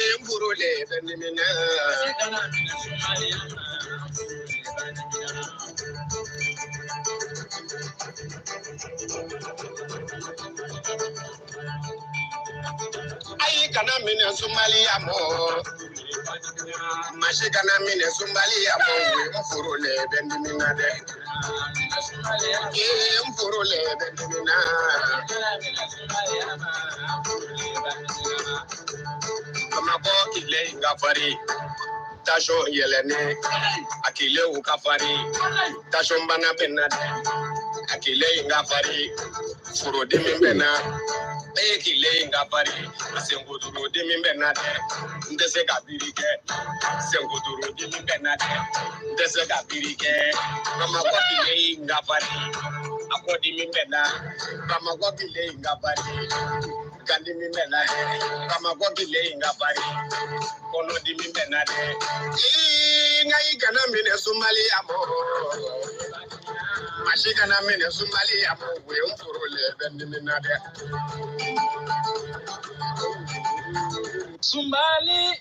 Ayi kana minɛ sunbaliya mɔ masi kana minɛ sunbaliya mɔ n furu le bɛ dimi na dɛ ee n furu le bɛ dimi na Bamakɔ kile in ka farin tasɔn yɛlɛnnen a kilew ka farin tasɔn bana bɛ na dɛ a kile in ka farin furudimi bɛ na e kile in ka farin senkotoro dimi bɛ na dɛ n tɛ se ka biri kɛ senkotoro dimi bɛ na dɛ n tɛ se ka biri kɛ bamakɔ kile in ka farin a kɔdimi bɛ na. Bamakɔ kile in ka farin kandimi bɛ na dɛ Bamakɔ kile in ka farin kɔnɔdimi bɛ na dɛ ii nka ayi kana minɛ sunbaliya mɔ masi kana minɛ sunbaliya mɔ o ye n furu le bɛ dimi na dɛ sunbali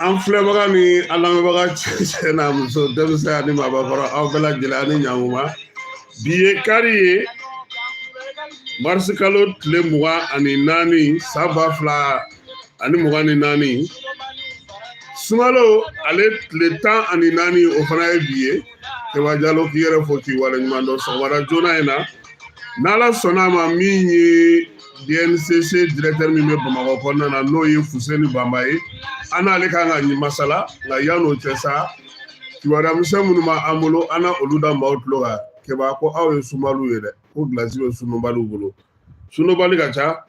An filɛbaga ni an lamɛnbaga cɛ n'a muso denmisɛn ani maabakɔrɔ aw bɛɛ lajɛlen ani ɲankuma bi ye kari ye marisikalo tile mugan ani naani san ba fila ani mugan ni naani sunkalo ale tile tan ani naani o fana ye bi ye Kɛba Jalo k'i yɛrɛ fo k'i waleɲuman dɔn sɔgɔmada joona in na n'Ala sɔnna a ma min ye DNCC directeur min bɛ Bamakɔ kɔnɔna na n'o ye Fuseni Bamba ye an n'ale kan ka masala nka yan'o cɛ sa kibaruya misɛn minnu b'an bolo an na olu da maaw tulo kan Kɛba ko aw ye sunbaliw ye dɛ ko gilasi bɛ sunbaliw bolo sunbali ka ca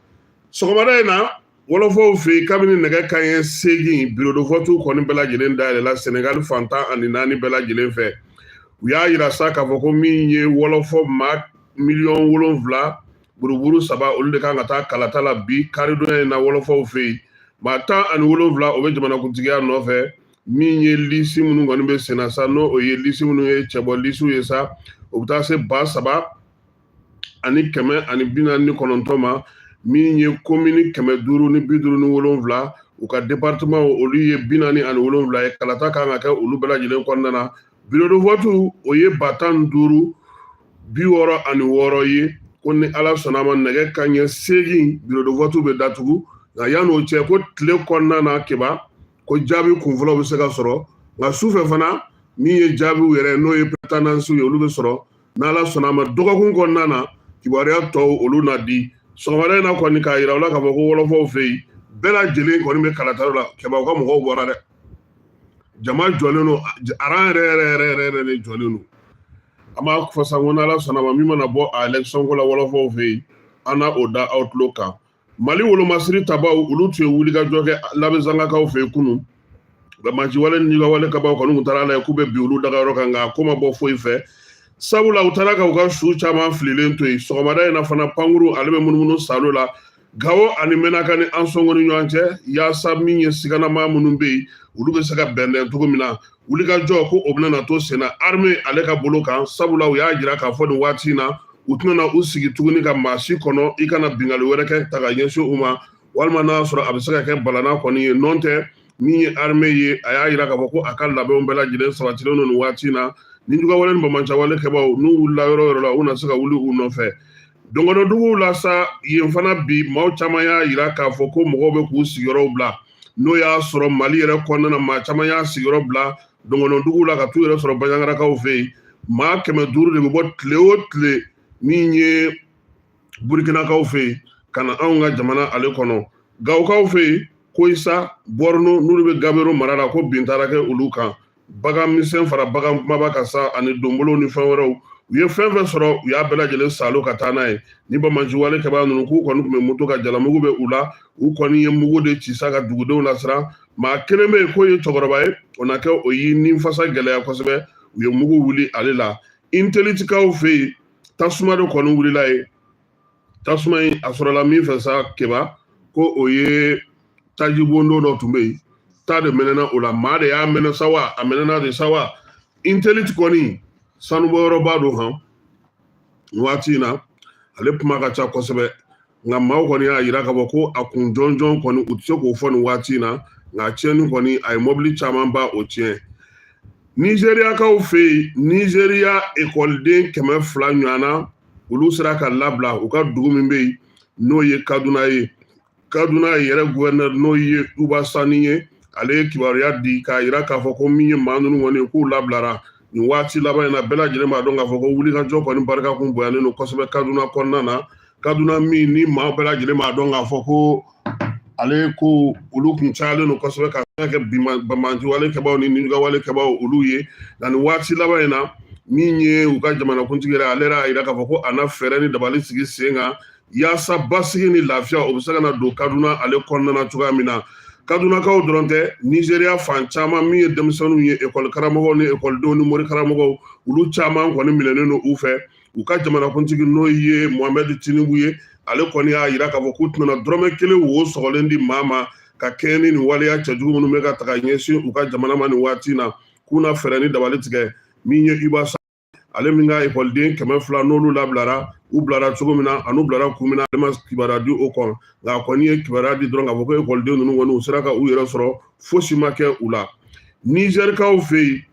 sɔgɔmada in na wɔlɔfɔw fɛ yen kabini nɛgɛ kanɲɛ seegin bureau de vote kɔni bɛɛ lajɛlen dayɛlɛla Senegali fan tan ani naani bɛɛ lajɛlen fɛ u y'a yira sa k'a fɔ ko min ye wɔlɔfɔ maa miliyɔn wolonfila buruburu saba olu de kan ka taa kalata la bi karidonya in na wɔlɔfɔw fɛ yen maa tan ani wolonfila o bɛ jamanakuntigiya nɔfɛ min ye lisi minnu kɔni bɛ senna sa n'o o ye lisi minnu ye cɛbɔ lisiw ye sa o bɛ taa se ba saba ani kɛmɛ ani bi naani ni kɔnɔntɔn ma min ye komini kɛmɛ duuru ni bi duuru ni wolonfila u ka departemanw olu ye bi naani ani wolonfila ye kalata kan ka kɛ olu bɛɛ lajɛlen kɔnɔna na birodevɔtu o ye ba tan duuru bi wɔɔrɔ ani wɔɔrɔ ye ko ni ala sɔnna ma nɛgɛ kanɲɛ seegin birodevɔtu bɛ datugu nka yan'o cɛ ko tile kɔnɔna na keba ko jaabi kunfɔlɔw bɛ se ka sɔrɔ nka su fɛ fana min ye jaabiw yɛrɛ n'o ye pretandansiw ye olu bɛ sɔrɔ n'ala sɔnna ma dɔgɔkun kɔnɔna na kibaruya tɔw olu na di sɔgɔmada in na kɔni k'a yira u la k'a fɔ ko wɔlɔfɔw fɛ yen bɛɛ lajɛlen kɔni bɛ kalataw la keba u ka mɔgɔw bɔra dɛ jama jɔlen don aran yɛrɛ yɛrɛ yɛrɛ yɛrɛ yɛrɛ de jɔlen don an b'a fɔ sa ko n'ala sɔnna ma min mana bɔ a election ko la wɔlɔfɔw fɛ yen an na o da aw tulo kan mali wolomasiri tabaw olu tun ye wulikajɔ kɛ labɛzangakaw fɛ yen kunun banbaanciwale ni juguyawale kɛbaaw kɔni tun taara a lajɛ k'u bɛ bin olu dagayɔrɔ kan nka a ko ma bɔ foyi fɛ sabula u taara ka u ka su caman fililen to yen sɔgɔmada in na fana pankuru ale bɛ munumunu saalo la gawo ani mɛnaka ni ansɔngo ni ɲɔgɔn cɛ yaasa min ye siganama minnu bɛ yen olu bɛ se ka bɛnbɛn cogo min na wulikajɔ ko o bɛna to senna arme ale ka bolo kan sabula u y'a jira k'a fɔ nin waati in na u tɛna u sigi tuguni ka maa si kɔnɔ i ka na binkanni wɛrɛ kɛ ta ka ɲɛsin u ma walima n'a sɔrɔ a bɛ se ka kɛ balana kɔni ye nɔntɛ min ye arme ye a y'a jira k'a fɔ ko a ka labɛnw bɛɛ lajɛlen sabatilen don nin waati in na ni juguyawale ni banbaanciwale kɛbaaw n'u wulila yɔrɔ yɔrɔ la u na se ka wuli u nɔfɛ dɔgɔnɔduguw la sa yen fana bi maaw caman y'a yira k'a fɔ ko mɔgɔw bɛ k'u sigiyɔrɔw bila n'o y'a sɔrɔ mali yɛrɛ kɔnɔna na maa caman y'a sigiyɔrɔ bila dɔgɔnɔduguw la ka t'u yɛrɛ sɔrɔ banjagarakaw fɛ yen maa kɛmɛ duuru de bɛ bɔ tile o tile min ye burikinakaw fɛ yen ka na anw ka jamana ale kɔnɔ gawokaw fɛ yen koyisa bɔrino n'olu bɛ gabero mara la ko bin taara kɛ olu kan bagan misɛn fara bagan kumaba kan sa ani donbolow ni fɛn wɛrɛw u ye fɛn fɛn sɔrɔ u y'a bɛɛ lajɛlen saalo ka taa n'a ye ni banbaanciwale kɛbaa ninnu k'u kɔni tun bɛ moto kan jalamugu bɛ u la u kɔni ye mugu de ci sa ka dugudenw lasiran maa kelen bɛ yen k'o ye cɛkɔrɔba ye o na kɛ o y'i ni fasa gɛlɛya kosɛbɛ u ye mugu wuli ale la intelitikaw fɛ yen tasuma de kɔni wulila yen tasuma in a sɔrɔla min fɛ sa keba ko o ye taji bondo dɔ tun bɛ yen ta de mɛnɛna o la maa de y'a mɛnɛ sa wa a mɛnɛna de sa wa intelite kɔni sanubɔyɔrɔba don han waati in na ale kuma ka ca kosɛbɛ nka maaw kɔni y'a yira k'a fɔ ko a kun jɔnjɔn kɔni u tɛ se k'o fɔ nin waati in na nka tiɲɛni kɔni a ye mɔbili caman ba o tiɲɛ nizeriyakaw fɛ yen nizeriya ekɔliden kɛmɛ fila ɲɔgɔnna olu sera ka labila u ka dugu min bɛ yen n'o ye kaduna ye kaduna yɛrɛ guvɛrinɛri n'o ye uba sani ye ale ye kibaruya di k'a yira k'a fɔ ko min ye maa ninnu kɔni ye k'u labilara nin waati laban in na bɛɛ lajɛlen b'a dɔn k'a fɔ ko wulikajɔ kɔni barika kun bonyalen don kosɛbɛ kaduna kɔnɔna na kaduna min ni maa bɛɛ lajɛlen b'a dɔn k'a fɔ ko ale ko olu kun cayalen don kosɛbɛ ka kɛ banbaanci wale kɛbaaw ni ninjuguya wale kɛbaaw olu ye nka nin waati laban in na min ye u ka jamanakuntigi yɛrɛ ale y'a yira k'a fɔ ko a na fɛɛrɛ ni dabali sigi sen kan yaasa basigi ni lafiya o bɛ se ka na don kaduna ale kɔnɔna na cogoya min na kadunakaw dɔrɔn tɛ nizeriya fan caman min ye denmisɛnninw ye ekɔli karamɔgɔw ni ekɔlidenw ni mori karamɔgɔw olu caman kɔni minɛnen don u fɛ u ka jamanakuntigi n'o ye mohamɛd tinubu ye ale kɔni y'a yira k'a fɔ k'u tɛna dɔrɔmɛ kelen wo sɔgɔlen di maa ma ka kɛɲɛ ni nin waleya cɛjugu minnu bɛ ka taga ɲɛsin u ka jamana ma nin waati in na k'u na fɛɛrɛ ni dabali tigɛ min ye uba sa ale min ka ekɔliden kɛmɛ fila n'olu labilara u bilara cogo min na an'u bilara kun min na ale ma kibaruya di o kan nka a kɔni ye kibaruya di dɔrɔn k'a fɔ ko ekɔliden ninnu kɔni u sera ka u yɛrɛ sɔrɔ fosi ma kɛ u la nizɛrikaw fɛ yen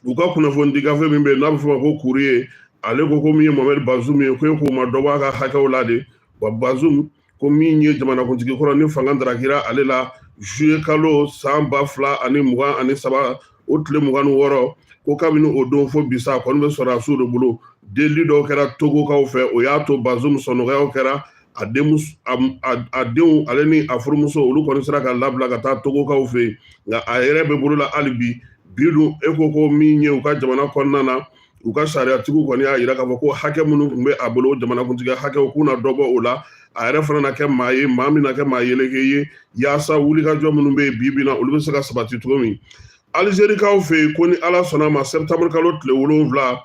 u ka kunnafoni di gafe min bɛ yen n'a bɛ fɔ ma ko kuriye ale ko ko min ye mohamɛdi bazum ye ko e k'o ma dɔ bɔ a ka hakɛw la de wa bazum ko min ye jamanakuntigi kɔrɔ ni fanga darakira ale la juye kalo san ba fila ani mugan ani saba o tile mugan ni wɔɔrɔ ko kabini o don fo bi sa a kɔni bɛ sɔrɔdasiw de bolo delili dɔw kɛra togokaw fɛ o y'a to bazum sɔnɔgɔyaw kɛra a a denw ale ni a furumuso olu kɔni sera ka labila ka taa togokaw fɛ yen nka a yɛrɛ bɛ bolo la hali bi bi dun e ko ko min ye u ka jamana kɔnɔna na u ka sariyatigiw kɔni y'a yira k'a fɔ ko hakɛ minnu tun bɛ a bolo jamanakuntigi hakɛw k'u na dɔ bɔ o la a yɛrɛ fana na kɛ maa ye maa min na kɛ maa yeleke ye yaasa wulikajɔ minnu bɛ yen bi bi na olu bɛ se ka sabati cogo min alizerikaw fɛ yen ko ni ala sɔnna a ma sɛtanburukalo tile wolonwula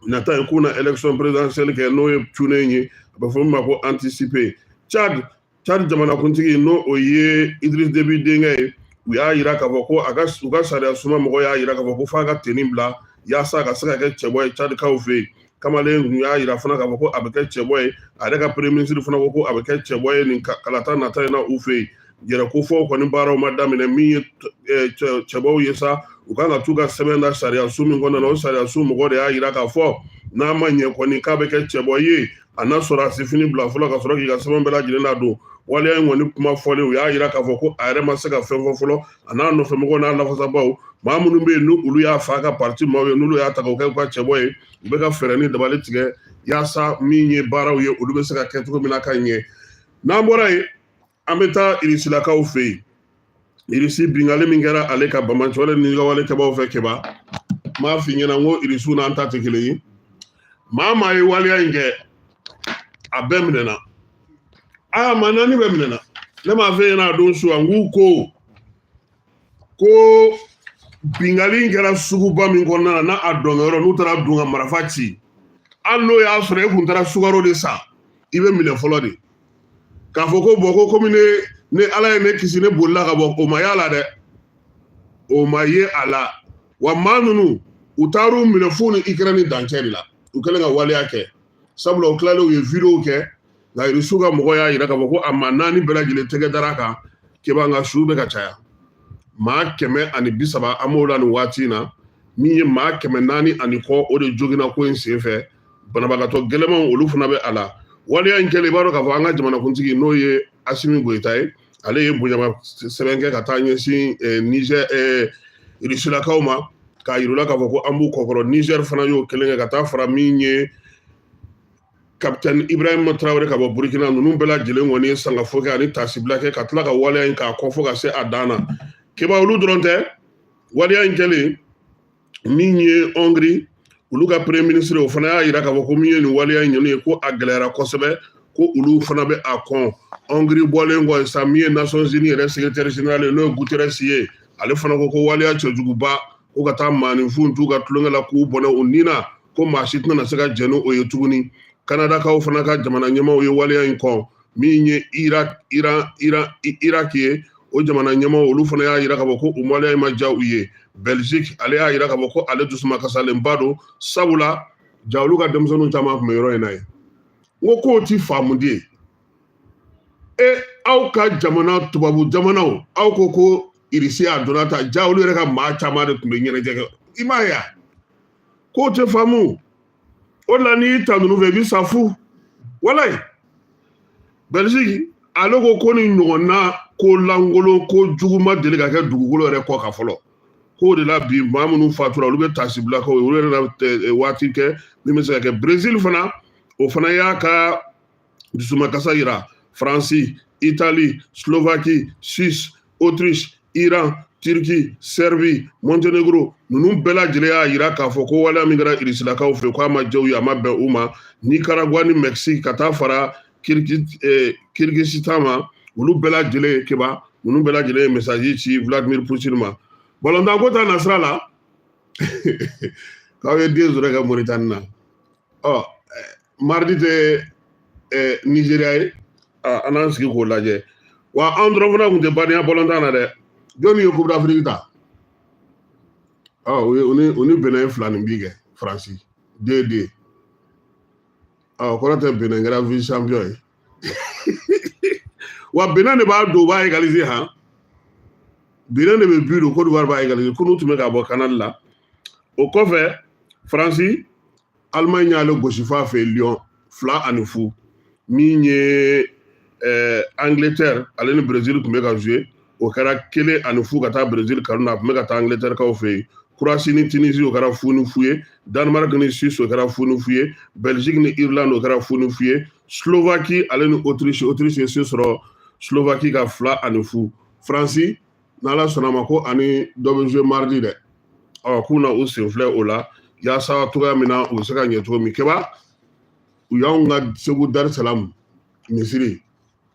nata in k'u na election présidentielle kɛ n'o ye cunnen ye a bɛ fɔ min ma ko anticipée Tchad Tchad jamanakuntigi ni o ye Idriss Déby denkɛ ye u y'a yira k'a fɔ ko a ka u ka sariyasoba mɔgɔ y'a yira k'a fɔ ko f'a ka tenue bila yaasa a ka se ka kɛ cɛbɔ ye Tchadkaw fɛ yen kamalen tun y'a yira fana k'a fɔ ko a bɛ kɛ cɛbɔ ye a yɛrɛ ka premier ministre fana ko ko a bɛ kɛ cɛbɔ ye nin kalata nata in na u fɛ yen yɛrɛkofɔw kɔni baaraw ma daminɛ min ye eh, cɛbɔw ye sa u kan ka t'u ka sɛbɛn da sariyaso min kɔnɔna na o sariyaso mɔgɔ de y'a yira k'a fɔ n'a ma ɲɛ kɔni k'a bɛ kɛ cɛbɔ ye a na sɔrɔdasi fini bila fɔlɔ ka sɔrɔ k'i ka sɛbɛn bɛɛ lajɛlen ladon waleya in kɔni kuma fɔlen u y'a yira k'a fɔ ko a yɛrɛ ma se ka fɛn fɔ fɔlɔ a n'a nɔfɛ mɔgɔw n'a lafasabaw maa minnu bɛ yen n'olu y'a fa ka parti maaw ye n'olu y'a ta k'o kɛ u ka cɛbɔ ye u bɛ ka fɛɛrɛ ni dabali tigɛ yaasa min ye baaraw ye olu bɛ se ka kɛ cogo min na ka ɲɛ n'an bɔra yen an bɛ taa irisilakaw fɛ yen irisi binkanni min kɛra ale kan banbaanci wale ninjuguya wale kɛbaw fɛ kɛba m'a f'i ɲɛna n ko irisiw n'an ta tɛ kelen ye maa maa ye waleya in kɛ a bɛɛ minɛna aa maa naani bɛɛ minɛna ne m'a f'e ɲɛna a don su an k'u ko ko bingali in kɛra suguba min kɔnɔna na n'a a dɔnkɛyɔrɔ n'u taara don ka marafa ci hali n'o y'a sɔrɔ e kun taara sukaro de san i bɛ minɛ fɔlɔ de k'a fɔ ko bɔn ko komi ne ne ala ye ne kisi ne bolila ka bɔ o ma y'a la dɛ o ma ye a la wa maa ninnu u taar'u minɛ f'u ni ikirɛni dancɛ de la u kɛlen ka waleya kɛ sabula u tilalen u ye wideyo kɛ nka irisiw ka mɔgɔ y'a yira k'a fɔ ko a maa naani bɛɛ lajɛlen tɛgɛ dara a kan keba nka su bɛ ka caya maa kɛmɛ ani bi saba an b'o la nin waati in na min ye maa kɛmɛ naani ani kɔ o de joginna ko in sen fɛ banabagatɔ gɛlɛmanw olu fana bɛ a la waleya in kɛlen i b'a dɔn k'a fɔ an ka jamanakuntigi n'o ye asimi goyita ye ale ye bonyama sɛbɛn kɛ ka taa ɲɛsin eh, nizɛr irisilakaw ma k'a yir'u la k'a fɔ ko an b'u kɔkɔrɔ nizɛr fana y'o kelen kɛ ka taa fara min ye kapitɛni ibrahima traoré ka bɔ burukina ninnu bɛɛ lajɛlen kɔni ye sangafo kɛ ani tasibila kɛ ka tila ka waleya in k'a kɔn fo ka se a dan na keba olu dɔrɔn tɛ waleya in kɛlen min ye hongrie olu ka premier ministre o fana y'a yira k'a fɔ ko min ye nin waleya in ɲɔgɔn ye ko a gɛlɛyara kosɛbɛ ko olu fana bɛ a kɔn hongrie bɔlen kɔ sa min ye nations unies yɛrɛ secrétaire général ye n'o ye guterres ye ale fana ko ko waleya cɛjuguba ko ka taa maaninfinw t'u ka tulonkɛ la k'u bɔnɛ u ni na ko maa si tɛna se ka jɛn ni o ye tuguni kanadakaw fana ka jamana ɲɛmaaw ye waleya in kɔn min ye iran irak ye o jamana ɲɛmaaw olu fana y'a yira k'a fɔ ko o waleya in ma diya u ye belgique ale y'a yira k'a fɔ ko ale dusuma kasalenba don sabula ja olu ka denmisɛnninw caman tun bɛ yɔrɔ in na yen ko kow ti faamu dɛ ye e aw ka jamana tubabu jamanaw aw ko ko irisi a donna ta jaa olu yɛrɛ ka maa caman de tun bɛ ɲɛnajɛ kɛ i m'a ye kow tɛ faamu o de la n'i y'i ta ninnu fɛ i bɛ sa fu walayi belgique ale ko ko nin ɲɔgɔnna ko lankolon ko jugu ma deli ka kɛ dugukolo yɛrɛ kɔ kan fɔlɔ k'o de la bi maa minnu fatura olu bɛ taasibila k'u ye olu yɛrɛ na waati kɛ min bɛ se ka kɛ brezil fana o fana y'a ka dusumakasa yira faransi itali slovaki suisse autriche iran turki serbi montenegro ninnu bɛɛ lajɛlen y'a yira k'a fɔ ko waleya min kɛra irisilakaw fɛ k'a ma diya u ye a ma bɛn u ma nicaragua ni mexique ka taa fara kirghizistan ma olu bɛɛ lajɛlen ye keba ninnu bɛɛ lajɛlen ye mesaji ci vladimir putin ma balontanko ta nasira la k'aw ye deux zéro kɛ moritani na ɔ mardi tɛ ɛɛ nizeriya ye an n'an sigi k'o lajɛ wa an dɔrɔn fana tun tɛ badenya balontan na dɛ jɔnni ye coupe d'afrique ta ɔ o ye o ni o ni benin ye filaninbin kɛ faransi deux deux o kɔrɔ tɛ benin kɛra vice champion ye wa benin de b'a don u b'a égaliser han benin de bɛ but don kodiwari b'a égaliser kunu tun bɛ ka bɔ canal la o kɔfɛ faransi alimaɲi y'ale gosi f'a fɛ lyon fila ani fu min ye eh, angleterre ale ni brésil tun bɛ ka jouer o kɛra kelen ani fu ka taa brésil kanu na a tun bɛ ka taa angleterre kaw fɛ yen croatie ni tunisi o kɛra fu ni fu ye danemark ni suisse o kɛra fu ni fu ye belgique ni irlande o kɛra fu ni fu ye slovaquie ale ni autriche autriche ye se sɔrɔ slovaquie kan fila ani fu faransi n'ala sɔnna a ma ko a ni dɔ bɛ jouer mardi dɛ ɔ k'u na u sen filɛ o la yaasa cogoya min na u bɛ se ka ɲɛ cogo min kɛba u y'anw ka segu darisalamu misiri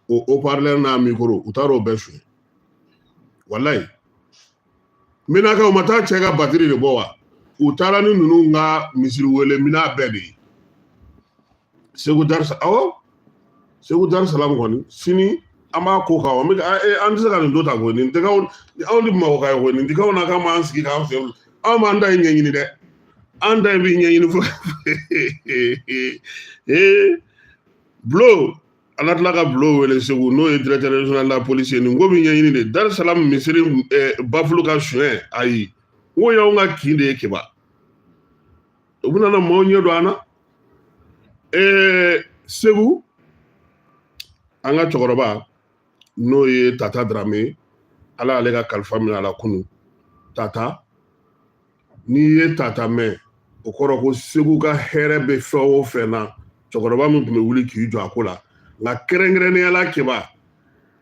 o haut-parleur n'a micro u taara o bɛɛ suɲɛ walayi min na kɛ u ma taa cɛ ka batiri de bɔ wa u taara ni ninnu ka misiri wele minan bɛɛ de ye segu darisa awɔ segu darisalamu kɔni sini an b'a ko kan an bɛ an tɛ se ka nin to tan koyi nin tɛ anw de bamakɔka ye koyi nin tɛ anw na k'an b'an sigi k'an fɛ anw b'an ta in ɲɛɲini dɛ an ta in bɛ ɲɛɲini fo ee bulo an ka tila ka bulo wele segu n'o ye directeur régional la police ye nin ko bɛ ɲɛɲini dɛ darisalamu misiri bafulu ka suɲɛ ayi n ko o y'anw ka kin de ye keba u bɛna na maaw ɲɛ don an na ɛɛ segu an ka cɛkɔrɔba n'o ye tata darame ala y'ale ka kalifa minɛ a la kunu tata n'i ye tata mɛn o kɔrɔ ko segu ka hɛrɛ bɛ fɛn o fɛn na cɛkɔrɔba min tun bɛ wuli k'i jɔ a ko la nka kɛrɛnkɛrɛnnenya la kɛba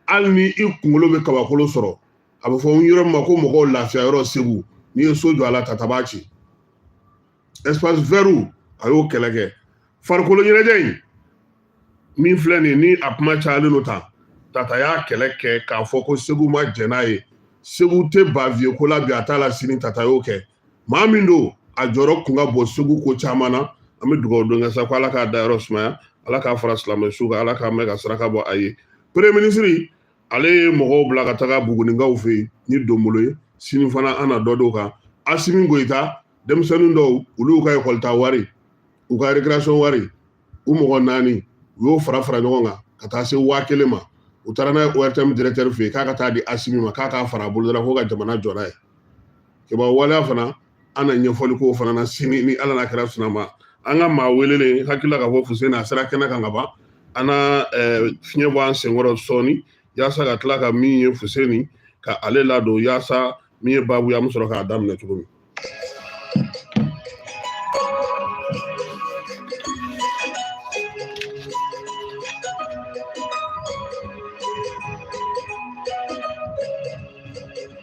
hali ni i kunkolo bɛ kabakolo sɔrɔ a bɛ fɔ n yɔrɔ min ma ko mɔgɔw lafiya yɔrɔ segu n'i ye so jɔ a la tata b'a ci espace vert a y'o kɛlɛ kɛ farikolo ɲɛnajɛ in min filɛ nin ni a kuma cayalen don tan tata y'a kɛlɛ kɛ k'a fɔ ko segu ma jɛn n'a ye segu tɛ baviye ko la bi a t'a la sini tata y'o kɛ maa min don a jɔyɔrɔ tun ka bon segu ko caman na an bɛ dugawu don kɛ sa ko ala k'a dayɔrɔ sumaya ala k'a fara silamɛsu kan ala k'an mɛɛn ka saraka bɔ a ye premier ministre ale ye mɔgɔw bila ka taga bugunikaw fɛ yen ni donbolo ye sini fana an na dɔ d'o kan asimi goyita denmisɛnnin dɔw olu y'u ka ekɔli taa wari u ka récréation wari u mɔgɔ naani u y'o fara fara ɲɔgɔn kan ka taa se waa kelen ma u taara n'a ye ORTM directeur fɛ yen k'a ka taa di asimi ma k'a k'a fara a bolo dɔrɔn ko ka jamana jɔ n'a ye kɛba waleya fana an na ɲɛfɔli k'o fana na sini ni ala n'a kira sɔnna a ma an ka maa welelen hakili la k'a fɔ fuseni a sera kɛnɛ kan ka ban an na fiɲɛ bɔ an senkɔrɔ sɔɔni yaasa ka tila ka min ye fuseni ka ale ladon yaasa min ye baabu ye an bɛ sɔrɔ k'a daminɛ cogo min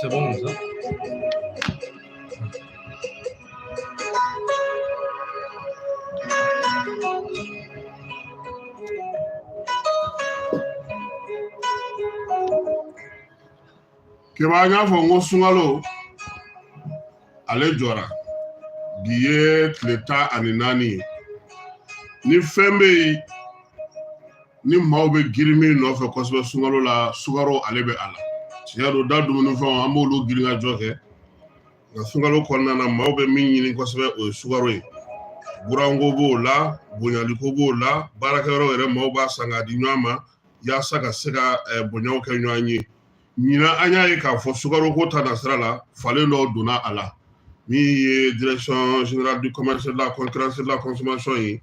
C'est bon comme ça. keba an y'a fɔ n ko sunkalo ale jɔra bi ye tile tan ani naani ye ni fɛn bɛ yen ni maaw bɛ girin min nɔfɛ kosɛbɛ sunkalo la sukaro ale bɛ a la tiɲɛ don da dumunifɛnw an b'olu girinkajɔ kɛ nka sunkalo kɔnɔna na maaw bɛ min ɲini kosɛbɛ o ye sukaro ye buranko b'o la bonyaliko b'o la baarakɛyɔrɔ yɛrɛ maaw b'a san k'a di ɲɔgɔn ma yaasa ka se ka eh, bonyaw kɛ ɲɔgɔn ye ɲinan an y'a ye k'a fɔ sukaroko ta nasira la falen dɔ donna a la min ye direction générale du commerce de la concurrence de la consommation ye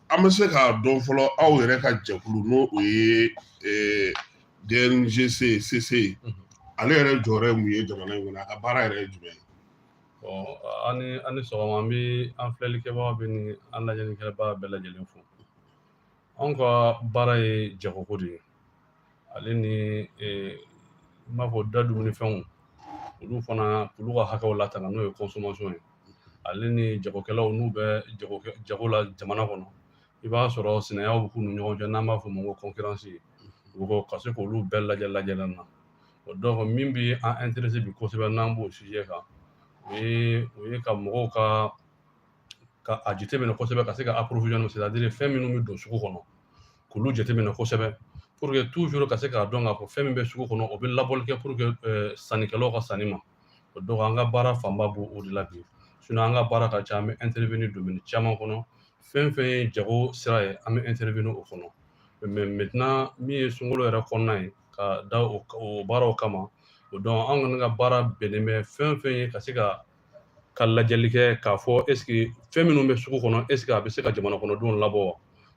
an bɛ se k'a dɔn fɔlɔ aw yɛrɛ ka jɛkulu n'o o ye DNGC CC ale yɛrɛ jɔyɔrɔ ye mun ye jamana in kɔnɔ a ka baara yɛrɛ ye jumɛn ye bon aw ni sɔgɔma n bɛ an filɛlikɛbaga bɛɛ ni an lajɛlikɛbaga bɛɛ lajɛlen fo anw ka baara ye jagoko de ye ale ni n b'a fɔ da dumuni fɛnw olu fana olu ka hakɛw latanga n'o ye consommation ye ale ni jagokɛlaw n'u bɛ jago la jamana kɔnɔ i b'a sɔrɔ sinayaw bɛ k'u ni ɲɔgɔn cɛ n'an b'a fɔ o ma ko concurrence u ko ka se k'olu bɛɛ lajɛ lajɛlen na o donc min bɛ an intéressé bi kosɛbɛ n'an b'o sujet kan o ye ka mɔgɔw ka ka a jateminɛ kosɛbɛ ka se ka approvisionnement c'est-à-dire fɛn minnu bɛ don sugu kɔnɔ k'olu jateminɛ kosɛbɛ pour que toujours ka se k'a dɔn k'a fɔ fɛn min bɛ sugu kɔnɔ o bɛ labɔli kɛ pour que eh, sannikɛlaw ka sanni ma o donc an ka baara fanba b'o de la bi sinon an ka baara ka ca an bɛ intervenir domaine caman kɔnɔ fɛn fɛn ye jago sira ye an bɛ intervenir o kɔnɔ mais maintenant min ye sunkalo yɛrɛ kɔnɔna ye ka da o baaraw kama o donc an kɔni ka baara bɛnnen bɛ fɛn fɛn ye ka se ka ka lajɛli kɛ k'a fɔ est-ce que fɛn minnu bɛ sugu kɔnɔ est-ce que a bɛ se ka jamana kɔnɔdenw labɔ wa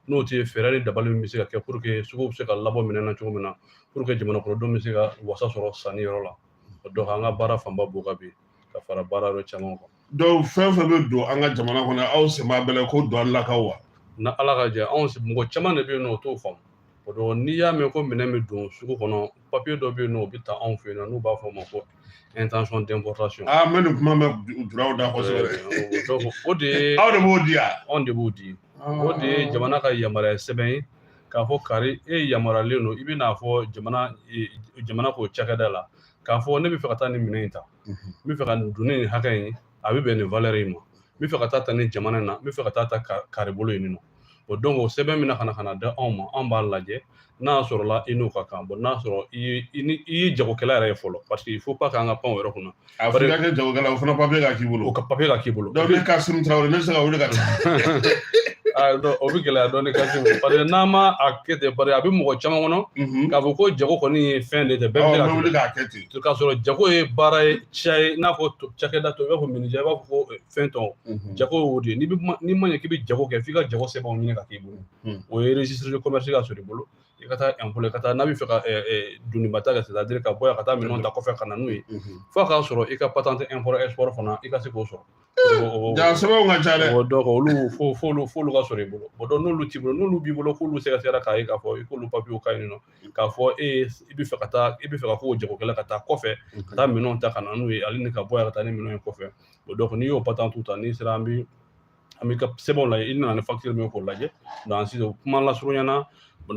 n'o tɛ fɛɛrɛ ni dabali min bɛ se ka kɛ pour que sugu bɛ se ka labɔ minɛn na cogo min na pour que jamana kɔnɔdenw bɛ se ka wasa sɔrɔ sanni yɔrɔ la donc an ka baara fanba b'o kan bi ka fara baara yɔrɔ caman kan donc fɛn fɛn bɛ don an ka jamana kɔnɔ aw sen b'a bɛɛ la ko don an la k'a walawala ka jɛ anw mɔgɔ caman de bɛ yen n'u t'o faamu o donc n'i y'a mɛn ko minɛn bɛ don sugu kɔnɔ papiye dɔ bɛ yen nɔ o bɛ ta anw fɛ yen nɔ n'u b'a fɔ o ma ko intention d'importation. aa n bɛ nin kuma mɛn julaw da kosɛbɛ. o de ye aw de b'o di yan. anw de b'o di. o de ye jamana ka yamaruya sɛbɛn ye k'a fɔ kari e yamaruyalen don i bɛ n'a fɔ jamana k'o cakɛda la k'a fɔ ne bɛ fɛ ka taa nin minɛn in ta n bɛ fɛ ka nin doni nin hakɛ in a bɛ bɛn nin valeur in ma n bɛ fɛ ka taa ta nin jamana in na n bɛ fɛ ka taa ta kari bolo yen nɔ o donc o sɛbɛn min na ka na ka na da anw ma anw b'a lajɛ n'a sɔrɔla i n'o ka kan bon n'a sɔrɔ i ye i ni i ye jagokɛla yɛrɛ ye fɔlɔ parce que il faut pas k'an ka pan o yɔrɔ kunna a fɔra i ka kɛ jagokɛla o fana papiye ka k'i bolo o ka papiye ka k'i bolo donc ne kasimu tarawele ne bɛ se ka wuli ka taa o bɛ gɛlɛya dɔɔni kasimu parce que n'an ma a kɛ ten parce que a bɛ mɔgɔ caman kɔnɔ k'a fɔ ko jago kɔni ye fɛn de tɛ bɛɛ bɛ se ka wuli k'a kɛ ten to k'a sɔrɔ jago ye baara ye ciya ye n'a fɔ cakɛda tɔw i b'a fɔ menuisier i b'a fɔ ko fɛn tɔw jago y'o de ye n'i ma ɲɛ k'i bɛ jago kɛ f'i ka jago sɛbɛnw ɲini ka k'i bolo o ye registre de commerce ka sɔrɔ i bolo i ka taa impôt la i ka taa n'a bɛ fɛ ka doniba ta kɛ c'est à dire ka bɔ yan ka taa minɛnw ta kɔfɛ ka na n'u ye f'a k'a sɔrɔ i ka patente import export fana i ka se k'o sɔrɔ jaa sɛbɛnw ka ca dɛ donc olu f'olu f'olu ka sɔrɔ i bolo o donc n'olu t'i bolo n'olu b'i bolo k'olu sɛgɛsɛgɛra k'a ye k'a fɔ i k'olu papiyew ka ɲi nɔ k'a fɔ e i bɛ fɛ ka taa i bɛ fɛ ka k'o jagokɛla ka taa kɔfɛ ka taa minɛnw ta ka na n'u ye ale ni ka bɔ yan ka taa ni minɛnw ye kɔfɛ o donc n'i y'o patente ta n'i sera an bɛ an b'i ka sɛbɛnw lajɛ i nana ni facture min ye k'o lajɛ donc sisan kuma lasurunya na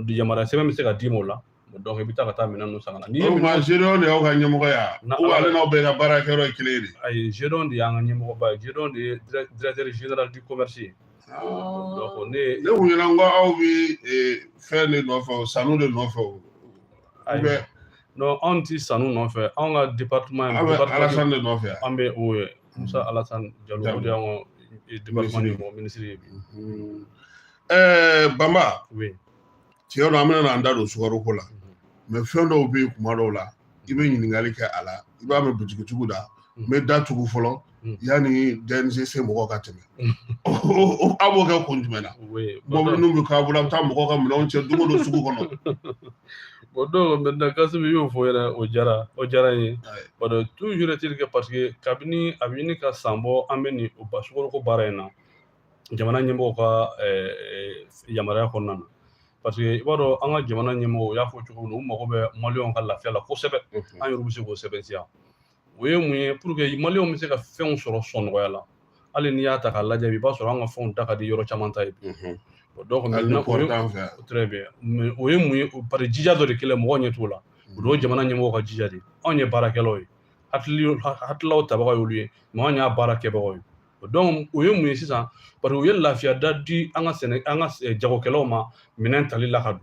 yamaruya sɛbɛn bɛ se ka d'i ma o la donc i bɛ taa ka taa minɛn ninnu san ka na. o tuma zedion de y'aw ka ɲɛmɔgɔ ye wa ale n'aw bɛɛ ka baarakɛyɔrɔ ye kelen de ye. ayi zedion de y'an ka ɲɛmɔgɔba ye zedion de ye directeur général du commerce ye. donc ne ne kun ɲɛ na ko aw bɛ fɛn de nɔfɛ o sanu de nɔfɛ o ayi non anw ti sanu nɔfɛ anw ka département aw bɛ alasani de nɔfɛ an bɛ o ye musa alasani jalo o de y'an ka département ɲɛmɔgɔ minisiri ye bi ɛɛ bamba oui tiɲɛ don an bɛna an da don sukaro ko la mais fɛn dɔw bɛ yen kuma dɔw la i bɛ ɲininkali kɛ a la i b'a mɛn butigitigiw da n bɛ da tugu fɔlɔ yanni DNCC mɔgɔ ka tɛmɛ a b'o kɛ kun jumɛn na mɔbili ninnu bɛ k'a bolo a bɛ taa mɔgɔw ka minɛnw cɛ don o don sugu kɔnɔ o donc maintenant kasimu y'o fɔ yɛrɛ o diyara o diyara n ye o donc toujours est-il que parce que kabini a bɛ ɲini ka san bɔ an bɛ nin o ba sukaro ko baara in na jamana ɲɛmɔgɔw ka yamaruya kɔnɔna na parce que i b'a dɔn an ka jamana ɲɛmɔgɔw y'a fɔ cogo min na u mago bɛ maliyɛnw ka lafiya la kosɛbɛ an yɛrɛ bɛ se k'o sɛbɛntiya o ye mun ye pour que maliyɛnw bɛ se ka fɛnw sɔrɔ sɔngɔ nɔgɔya la hali n'i y'a ta k'a lajɛ i b'a sɔrɔ an ka fɛnw da ka di yɔrɔ caman ta ye donc maintenant très bien o ye mun ye parce que jija dɔ de kɛlen mɔgɔ ɲɛ t'o la o donc jamana ɲɛmɔgɔw ka jija de anw ye baarakɛlaw ye hakililaw tabaga y'olu ye mais anw y'a baara kɛbagaw ye donc o ye mun ye sisan parce que u ye lafiya da di an ka sɛnɛ an ka eh, jagokɛlaw ma minɛn tali la ka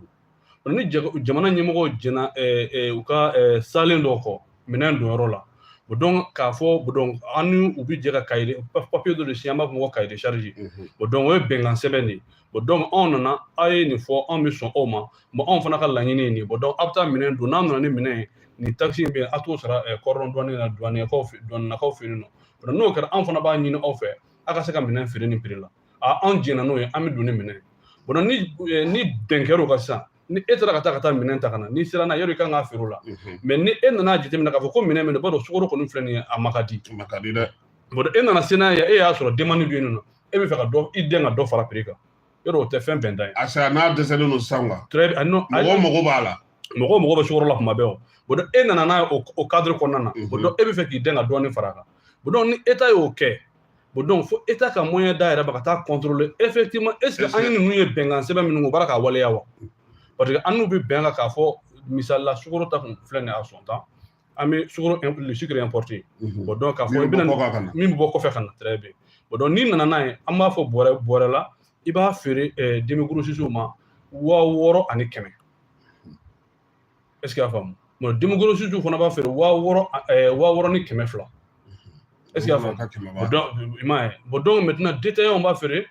don ni jamana ɲɛmɔgɔw jɛnna eh, eh, u ka salen dɔw kɔ minɛn donyɔrɔ la bon donc k'a fɔ donc an ni u bɛ jɛ ka kaye papiye dɔ de signer an b'a fɔ ko cahier de charge bon donc o ye bɛnkan sɛbɛn de ye bon donc anw nana aw ye nin fɔ anw bɛ sɔn aw ma bon anw fana ka laɲini ye nin ye bon donc aw bɛ taa minɛn don n'a nana ni minɛn ye nin takisi in bɛ yen a t'o sara cordon douanier la duwanɛkaw fɛ duwanɛkaw fɛ yen nɔ n'o kɛra an fana b'a ɲini aw fɛ aw ka se ka minɛn feere nin prix la a anw jɛnna n'o ye an bɛ don ni minɛn ye ni eh, ni bɛn kɛr'o kan sisan ni e taara ka taa ka taa minɛn ta ka na n'i sera n'a ye yɔrɔ i kan k'a feere o la mhm. mais ni e nana jateminɛ k'a fɔ ko minɛn min e b'a dɔn sukoro kɔni filɛ nin ye a ma ka di ma ka di dɛ e nana se n'a ye e y'a sɔrɔ demande bɛ yen nɔ e bɛ fɛ ka dɔ i dɛn ka dɔ fara prix kan yɔrɔ o tɛ fɛn bɛnta ye a sera n'a dɛsɛlen don sisan wa très bien non mɔgɔ mago b'a la mɔgɔ mago bɛ sukoro la kuma bɛɛ bon donc e nana n'a ye o cadre kɔnɔna na bon donc e bɛ fɛ k'i dɛn ka dɔɔnin fara a kan bon donc ni état y'o kɛ bon donc fo état ka moyen d'a yɛrɛ ma ka taa contrôler effectivement est ce que an ye ninnu ye bɛnkan sɛbɛn minnu kɛ u b'a ra k'a waleya wa parce que an n'u bɛ bɛn kan k'a fɔ misali la sukoro ta kun filɛ nin ye a sɔn tan an bɛ sukoro le sucre importé mhm. bon donc k'a fɔ i bɛna min bɛ bɔ kɔfɛ ka na très bien bon donc n'i nana n'a ye an b'a fɔ bɔrɛ bɔrɛ la i b'a feere eh, demi-grossistew ma waa wɔɔrɔ ani kɛmɛ est ce que y'a faamu bon demi-grossistew fana b'a feere waa wɔɔrɔ eh, waa wɔɔrɔ ni kɛmɛ fila mhm. est ce que y'a faamu donc i m'a ye bon donc maintenant détaillant b'a feere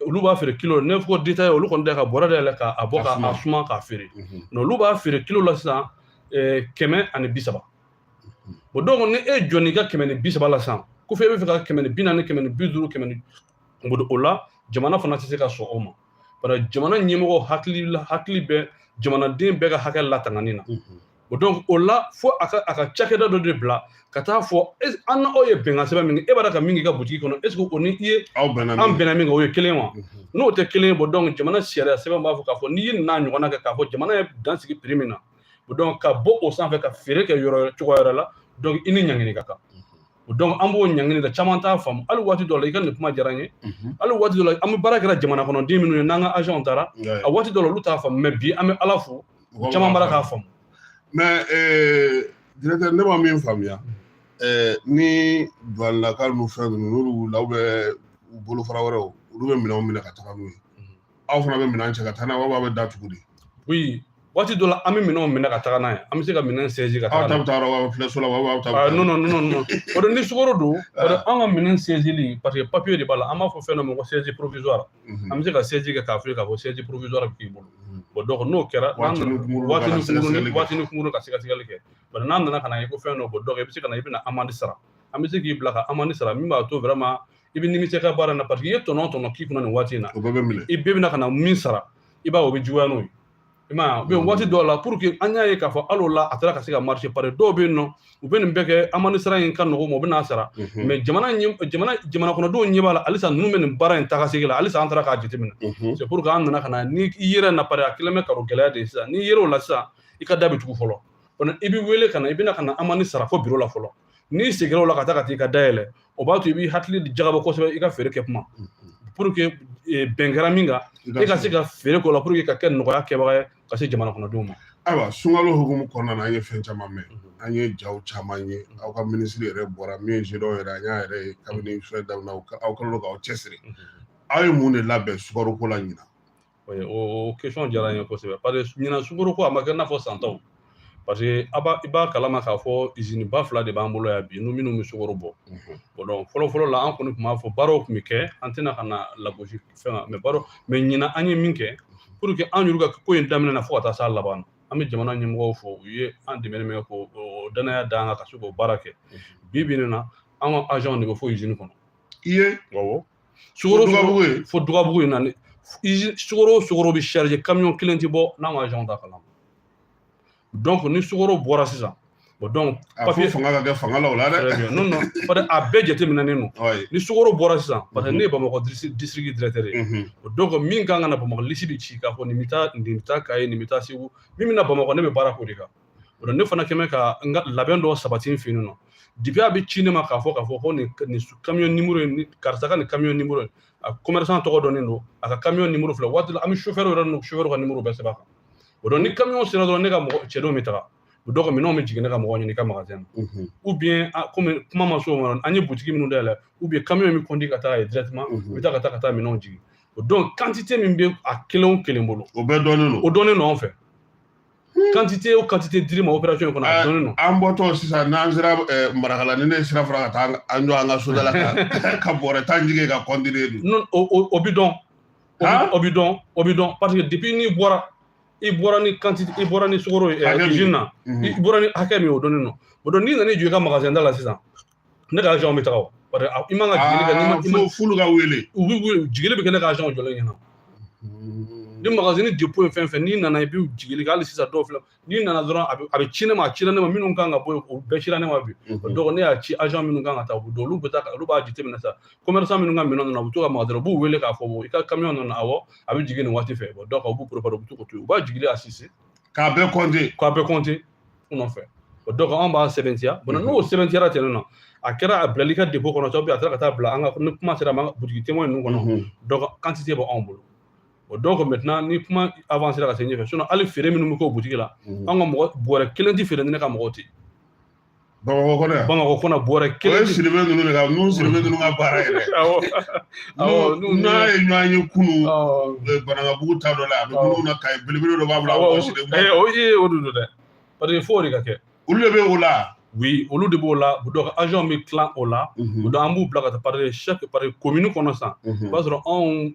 olu b'a feere kilo ne ko détaillant olu kɔni da ka bɔrɛ da yɛlɛ k'a bɔ k'a suma k'a feere mais olu b'a feere kilo la sisan kɛmɛ ani bi saba bon donc ni e jɔ n'i ka kɛmɛ ni bi saba la sisan k'a fɔ e bɛ fɛ ka kɛmɛ ni bi naani kɛmɛ ni bi duuru kɛmɛ ni o la jamana fana tɛ se ka sɔn o ma bari jamana ɲɛmɔgɔ hakili la hakili bɛ jamanaden bɛɛ ka hakɛ latangani na bon donc o la fo a ka a ka cakɛda dɔ de bila ka taa fɔ an n'aw ye bɛnkan sɛbɛn min kɛ e b'a ra ka min k'i ka butigi kɔnɔ est ce que o ni i ye an bɛnna min kan o ye kelen wa n'o tɛ kelen ye bon donc jamana sariya sɛbɛn b'a fɔ k'a fɔ n'i ye nin ɲɔgɔnna kɛ k'a fɔ jamana ye dan sigi prix min na bon donc ka bɔ o sanfɛ ka feere kɛ yɔrɔ cogoya wɛrɛ la donc i ni ɲangini ka kan bon donc an b'o ɲangini da caman t'a faamu hali waati dɔ la i ka nin kuma diyara n ye hali waati dɔ la an bɛ baara kɛra jamana kɔnɔden minnu ye n'an ka agentw taara a waati dɔ la olu t'a faamu mais bi an bɛ ala fo mɔgɔ caman b'a ra k'a faamu mais directeur ne ma min faamuya ni duwanilakaw n'u fɛn ninnu n'olu wulila ou bien u bolofara wɛrɛw olu bɛ minɛnw minɛ ka taga n'u ye aw fana bɛ minɛn cɛ ka taa n'a ye wa aw bɛ da tugu de oui waati dɔ la an bɛ minɛnw minɛ ka taga n'a ye an bɛ se ka minɛn saisir ka taga n'a ye aw ta bɛ taa yɔrɔ filɛ so la aw ta bɛ taa non non non non bon donc ni sukoro don bon donc an ka minɛn saisili parce que papiye de b'a la an b'a fɔ fɛn dɔ ma ko saisie provisoire mhm. an bɛ se ka saisie kɛ k'a fɔ k'a fɔ saisie provisoire bɛ k'i bolo mhm. bɔn donc n'o kɛra waati ni kunkuruni ka sɛgɛsɛgɛli kɛ bari n'an nana ka na ye ko fɛn dɔ bɔ donc i bɛ se ka na i bɛna amende sara an bɛ se k'i bila ka amende sara min b'a to vraiment i bɛ nimisi ka baara in na parce que i ye tɔnɔ tɔnɔ k'i kunna nin waati in na i bɛɛ bɛna ka na min sara i b'a o bɛ juguya n'o ye i m'a ye waati dɔw la pour que an y'a ye k'a fɔ hali o la a taara ka se ka marché pari dɔw bɛ yen nɔ u bɛ nin bɛɛ kɛ amende sara in ka nɔgɔ ma u bɛ n'a sara mais jamana jamana kɔnɔdenw ɲɛ b'a la halisa ninnu bɛ nin baara in taga segi la halisa an taara k'a jateminɛ c'est pour que an nana ka na ni i yɛrɛ na pari a kɛlen bɛ k'a rɔgɛlɛya de sisan n'i yer'o la sisan i ka da bɛ tugu fɔlɔ i bɛ wele ka na i bɛna ka na amende sara fo biro la fɔlɔ n'i seginna o la ka taa ka t'i ka da yɛlɛ o b'a to i b'i hakili jagabɔ kosɛbɛ i ka feere kɛ kuma pour que eh, bɛn kɛra min kan e ka se ka feere k'o la pour que ka kɛ nɔgɔya kɛbaga ye ka se jamana kɔnɔdenw ma ayiwa sunkalo hukumu kɔnɔna na an ye fɛn caman mɛn an ye jaw caman ye aw ka minisiri yɛrɛ bɔra min ye zedɔw yɛrɛ an y'a yɛrɛ ye kabini fɛn daminɛ aw kɛlen don k'aw cɛsiri aw ye mun de labɛn sukaroko la ɲinan o question diyara n ye kosɛbɛ pari ɲinan sukoro ko a ma kɛ i n'a fɔ san tɔw parce que i b'a kalama k'a fɔ izini ba fila de b'an bolo yan bi n'u minnu bɛ sukoro bɔ donc fɔlɔfɔlɔ la an kɔni tun b'a fɔ baaraw tun bɛ kɛ an tɛna ka na lagosi fɛn kan mais ɲinan an ye min kɛ pour que an yɛrɛ ka ko in daminɛ na fo ka taa s'a laban na an bɛ jamana ɲɛmɔgɔw fo u ye an dɛmɛ k'o dannaya d'an kan ka se k'o baara kɛ bi bi in na an ka agentw de bɛ fo izini kɔnɔ i ye awɔ sukoro fo dugabugu in na ni sukoro o sukoro bɛ charger camion kelen tɛ bɔ n'an ka agent t'a kalama donc ni sukoro bɔra sisan bon donc papier fanga ka kɛ fanga la o la dɛ non non parce que a bɛɛ jateminɛnen don ni sukoro bɔra sisan parce que ne ye bamakɔ district directeur ye o donc min kan ka na bamakɔ liste bɛ ci k'a fɔ nin bɛ taa kayi nin bɛ taa segu min bɛ na bamakɔ ne bɛ baara k'o de kan o ne fana quand même ka n ka labɛn dɔw sabati n fɛ yen nɔ depuis a bɛ ci ne ma k'a fɔ k'a fɔ ko nin nin kamiyon nimoro in karisa ka nin kamiyon nimoro in a kɔmɛrisan tɔgɔ dɔnnen don a ka kamiyon nimoro filɛ waati la an bɛ sofɛriw yɛrɛ n'u sofɛriw ka nimoro bɛɛ sɛbɛn a kan donc ni kamiyon sera dɔrɔn ne ka mɔgɔ cidenw bɛ taga donc minɛnw bɛ jigin ne ka mɔgɔ ɲɛ n'i ka magazɛn na ou bien kɔmi kuma ma se o ma an ye butigi minnu dayɛlɛ ou bien kamiyon min conduit ka taa yen directement u bɛ taa ka taa ka taa minɛnw jigin donc kantite min bɛ a kelen o kelen bolo o bɛɛ dɔnnen don o dɔnnen don anw fɛ quantité o quantité dir'i ma opération in kɔnɔ a dɔnnen don an bɔtɔ sisan n'an sera marakala ni ne sira fara ka taa an jɔ an ka soda la ka bɔrɛ tan jigin ka continuer dun o bi dɔn o bi dɔn o bi dɔn parce que depuis n'i bɔra i bɔra ni quantité i bɔra ni sukoro ye usine na i bɔra ni hakɛ min o dɔnnen don o donc n'i nana i jɔ i ka magasin da la sisan ne ka agent bɛ taga o parce que i man ka jigili kɛ n'i ma fɔlɔ ka wele u bɛ wele jigili bɛ kɛ ne ka agent jɔlen ɲɛna ni magasin dépôt ye fɛn fɛn n'i nana i bɛ jigili kɛ hali sisan dɔw filɛ n'i nana dɔrɔn a bɛ ci ne ma a ci ne ma minnu kan ka bɔ yen o bɛɛ cira ne ma bi o donc ne y'a ci agent minnu kan ka taa o don olu bɛ taa olu b'a jateminɛ sa commerçant minnu ka minɛn nana u bɛ to ka maga dɔrɔn u b'u wele k'a fɔ i ka camion nana awɔ a bɛ jigin nin waati fɛ donc u b'u préparer u bɛ to k'o to yen u b'a jigili assister k'a bɛɛ compter k'a bɛɛ compter u nɔfɛ o donc an b'a sɛbɛntiya bon n'o sɛbɛntiyara ten nɔ a kɛra a bilal'i ka dépôt kɔnɔ ou bien a taara ka taa bila an ka ni kuma sera ma butigi témoin ninnu kɔnɔ donc quantité bɛ anw bolo o donc maintenant ni kuma avancéra ka se ɲɛfɛ sinon hali feere minnu bɛ k'o butigi la an ka mɔgɔ bɔrɛ kelen tɛ feere ni ne ka mɔgɔw tɛ bamakɔ kɔnɔ bamakɔ kɔnɔ bɔrɛ kelen siribe ninnu de ka ninnu siribe ninnu ka baara yɛrɛ n'a ye ɲɔgɔn ye kunu banankabugu ta dɔ la a bɛ minnu na kaye belebele dɔ b'a bolo o ye o don dɛ parce que fo de ka kɛ olu de bɛ o la oui olu de b'o la donc agent bɛ tilan o la donc an b'u bila ka taa par chaque par komini kɔnɔ san i b'a sɔrɔ anw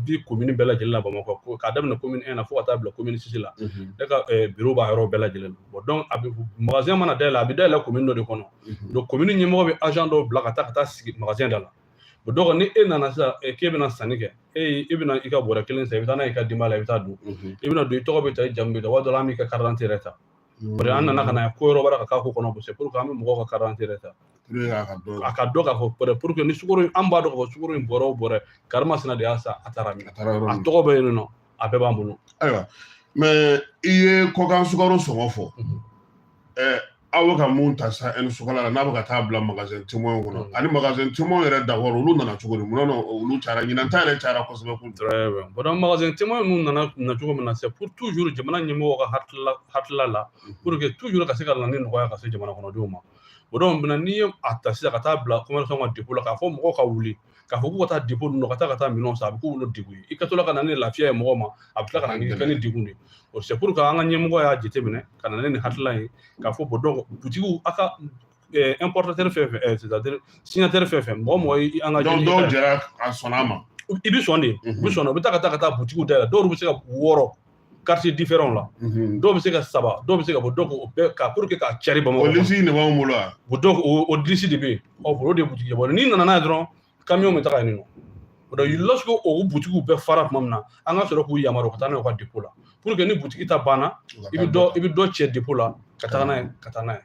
bi komini bɛɛ lajɛlen la bamakɔ k'a daminɛ komini un na fo ka taa bila komini six la ne ka biro b'a yɔrɔ bɛɛ lajɛlen na bon donc a bɛ magasin mana dayɛlɛ a bɛ dayɛlɛ komini dɔ de kɔnɔ donc komini ɲɛmɔgɔ bɛ agent dɔw bila ka taa ka taa sigi magasin da la o donc ni e nana sisan k'e bɛna sanni kɛ e ye i bɛna i ka bɔrɛ kelen san i bɛ taa n'a ye i ka denbaya la i bɛ taa dun i bɛna don i tɔgɔ bɛ ta i jamu bɛ ta waati dɔ la an b'i ka karidante yɛrɛ ta o de an nana ka na ko yɔrɔ wɛrɛ ka k'a ko kɔnɔ c'est pour que an bɛ mɔgɔw ka karidante yɛrɛ ta a ka dɔn k'a fɔ pour que ni sukoro an b'a dɔn k'a fɔ sukoro in bɔrɛ o bɔrɛ karimasina de y'a san a taara min a tɔgɔ bɛ yen nɔ a bɛɛ b'an bolo ayiwa mais i ye kɔkan sukaro sɔngɔ fɔ aw bɛ ka mun ta sa ɛni sukala la n'a bɛ ka taa bila magasin témoin kɔnɔ ani magasin témoin yɛrɛ d'abord olu nana cogo di mun na olu cayara ɲinan ta yɛrɛ cayara kosɛbɛ kun bon magasin témoin ninnu nana na cogo min na c'est pour toujours jamana ɲɛmɔgɔ ka hakilila hakilila la pour que toujours ka se ka na ni nɔgɔya ka se jamana kɔnɔdenw ma o donc maintenant n'i ye a ta sisan ka taa bila commerçant ka dépôt la k'a fɔ mɔgɔw ka wuli k'a fɔ k'u ka taa dépôt ninnu ka taa ka taa minɛnw san a bɛ k'olu degun ye i ka to la ka na ni lafiya ye mɔgɔ ma a bɛ tila ka na ni fɛn ni degun de ye o c'est pour que an ka ɲɛmɔgɔ y'a jateminɛ ka na ne ni hakilila ye k'a fɔ bon donc butigiw a ka importateur fɛn fɛn c'est à dire signataire fɛn fɛn mɔgɔ mɔgɔ ye an ka dɔw dɔw jɛra a sɔnna a ma i bɛ sɔn de i bɛ sɔn u bɛ taa ka taa ka taa butigiw dayɛlɛ dɔw bɛ se ka wɔɔrɔ quartier différent la mhm. dɔw bɛ se ka saba dɔw bɛ se ka bɔ donc o bɛɛ ka pour que k'a cari bamakɔ o lisi de b'anw bolo wa o donc o lisi de bɛ yen ɔ bolo de butigi bon n'i nana n'a ye dɔrɔn camion bɛ taga yen nɔ o donc lorsque o butigiw bɛɛ fara tuma min na an ka sɔrɔ k'u yamaruya ka taa n'a ye u ka dépôt la pour que ni butigi ta banna i bɛ dɔ i bɛ dɔ cɛ dépôt la ka taga n'a ye ka taa n'a ye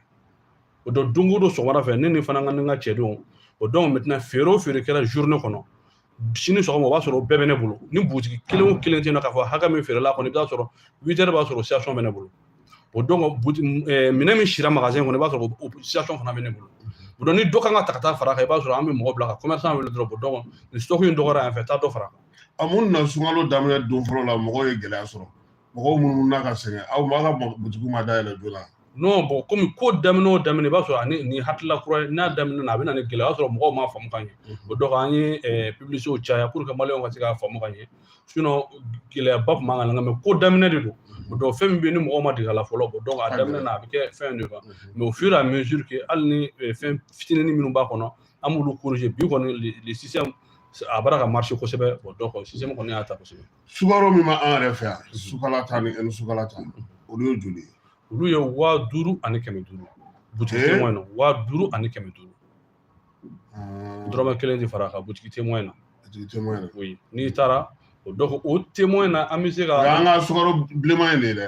o donc don o don sɔgɔmada fɛ ne ni fana ka ni n ka cɛdenw o donc maintenant feere o feere kɛra journée kɔnɔ sini sɔgɔma o b'a sɔrɔ o bɛɛ bɛ ne bolo ni butigi kelen o kelen tɛ na k'a fɔ hakɛ min feerela kɔni i bɛ t'a sɔrɔ huit heures b'a sɔrɔ situation bɛ ne bolo o donc minɛn min sira magazɛn kɔnɔ i b'a sɔrɔ o situation fana bɛ ne bolo o donc ni dɔ kan ka ta ka taa fara kan i b'a sɔrɔ an bɛ mɔgɔ bila ka commerçant wele dɔrɔn o donc ni stock in dɔgɔyara yan fɛ taa dɔ fara kan a mun na sunkalo daminɛ don fɔlɔ la mɔgɔw ye gɛlɛya sɔrɔ mɔgɔw minnu na ka sɛgɛn aw ma ka butigiw ma dayɛlɛ joona non bon komi ko daminɛ o daminɛ i b'a sɔrɔ ani ni hakilila kura ye n'a daminɛ na a bɛ na ni gɛlɛya o y'a sɔrɔ mɔgɔw m'a faamu ka ɲɛ o donc an ye publicités caya pour que maliyɛnw ka se k'a faamu ka ɲɛ sinon gɛlɛyaba tun b'an kan mais ko daminɛ de don o donc fɛn min bɛ yen ni mɔgɔw ma dege a la fɔlɔ o donc a daminɛ na a bɛ kɛ fɛn de kan mais au fur et à mesure que hali ni fɛn fitinin minnu b'a kɔnɔ an b'olu corriger bi kɔni le système a b'a la ka marcher kosɛbɛ o donc système kɔni y'a ta kosɛbɛ sukaro min b'an yɛrɛ fɛ yan sukala ta ni ɛni sukala ta olu ye joli ye olu ye waa duuru ani kɛmɛ duuru butigi témoin na waa duuru ani kɛmɛ duuru dɔrɔmɛ kelen tɛ fara a kan butigi témoin na butigi témoin na n'i taara o donc o témoin na an bɛ se ka o y'an ka sukaro bilenman in de ye dɛ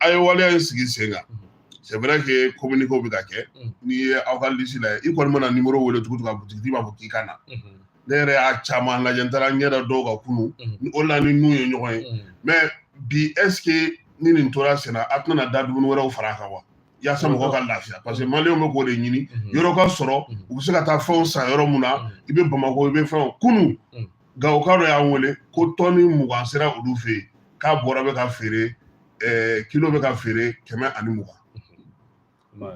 a ye waleya in sigi sen kan c'est vrai que communiqué bɛ ka kɛ n'i ye aw ka lisi lajɛ i kɔni mana nimoro wele tugu tugu a butigitigi b'a fɔ k'i ka na ne yɛrɛ y'a caman lajɛ n taara n ɲɛ da dɔw kan kunu o la ni n'u ye ɲɔgɔn ye mais bi est ce que ni nin tora senna a tɛna da dumuni wɛrɛw fara a kan wa yaasa mɔgɔ ka lafiya parce que maliyɛnw bɛ k'o de ɲini yɔrɔ ka sɔrɔ u bɛ se ka taa fɛnw san yɔrɔ mun na i bɛ bamakɔ i bɛ fɛn kunu gawoka dɔ y'an wele ko tɔni mugan sera olu fɛ yen k'a bɔrɛ bɛ ka feere ɛɛ kilo bɛ ka feere kɛmɛ ani mugan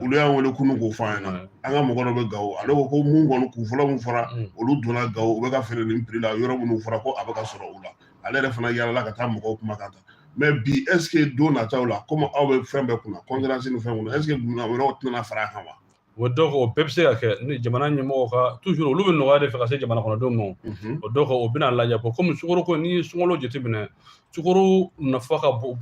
olu y'an wele kunu k'o fɔ an ɲɛna an ka mɔgɔ dɔ bɛ gawo ale ko ko mun kɔni kun fɔlɔ min fɔra olu donna gawo u bɛ ka feere nin prix la yɔrɔ minnu fɔra ko a bɛ ka sɔrɔ u la ale yɛrɛ fana yaalala ka taa mɔgɔw kuma kan ta mais bi est ce que don nataw la komi aw bɛ fɛn bɛɛ kunna concurrence ni fɛn kunna est ce que dumuni wɛrɛw tɛna fara a kan wa o donc o bɛɛ bɛ se ka kɛ ni jamana ɲɛmɔgɔw ka toujours olu bɛ nɔgɔya de fɛ ka se jamana kɔnɔdenw ma o donc o bɛna lajɛ ko komi sukaro ko n'i ye sunkalo jateminɛ sukaro nafa ka bon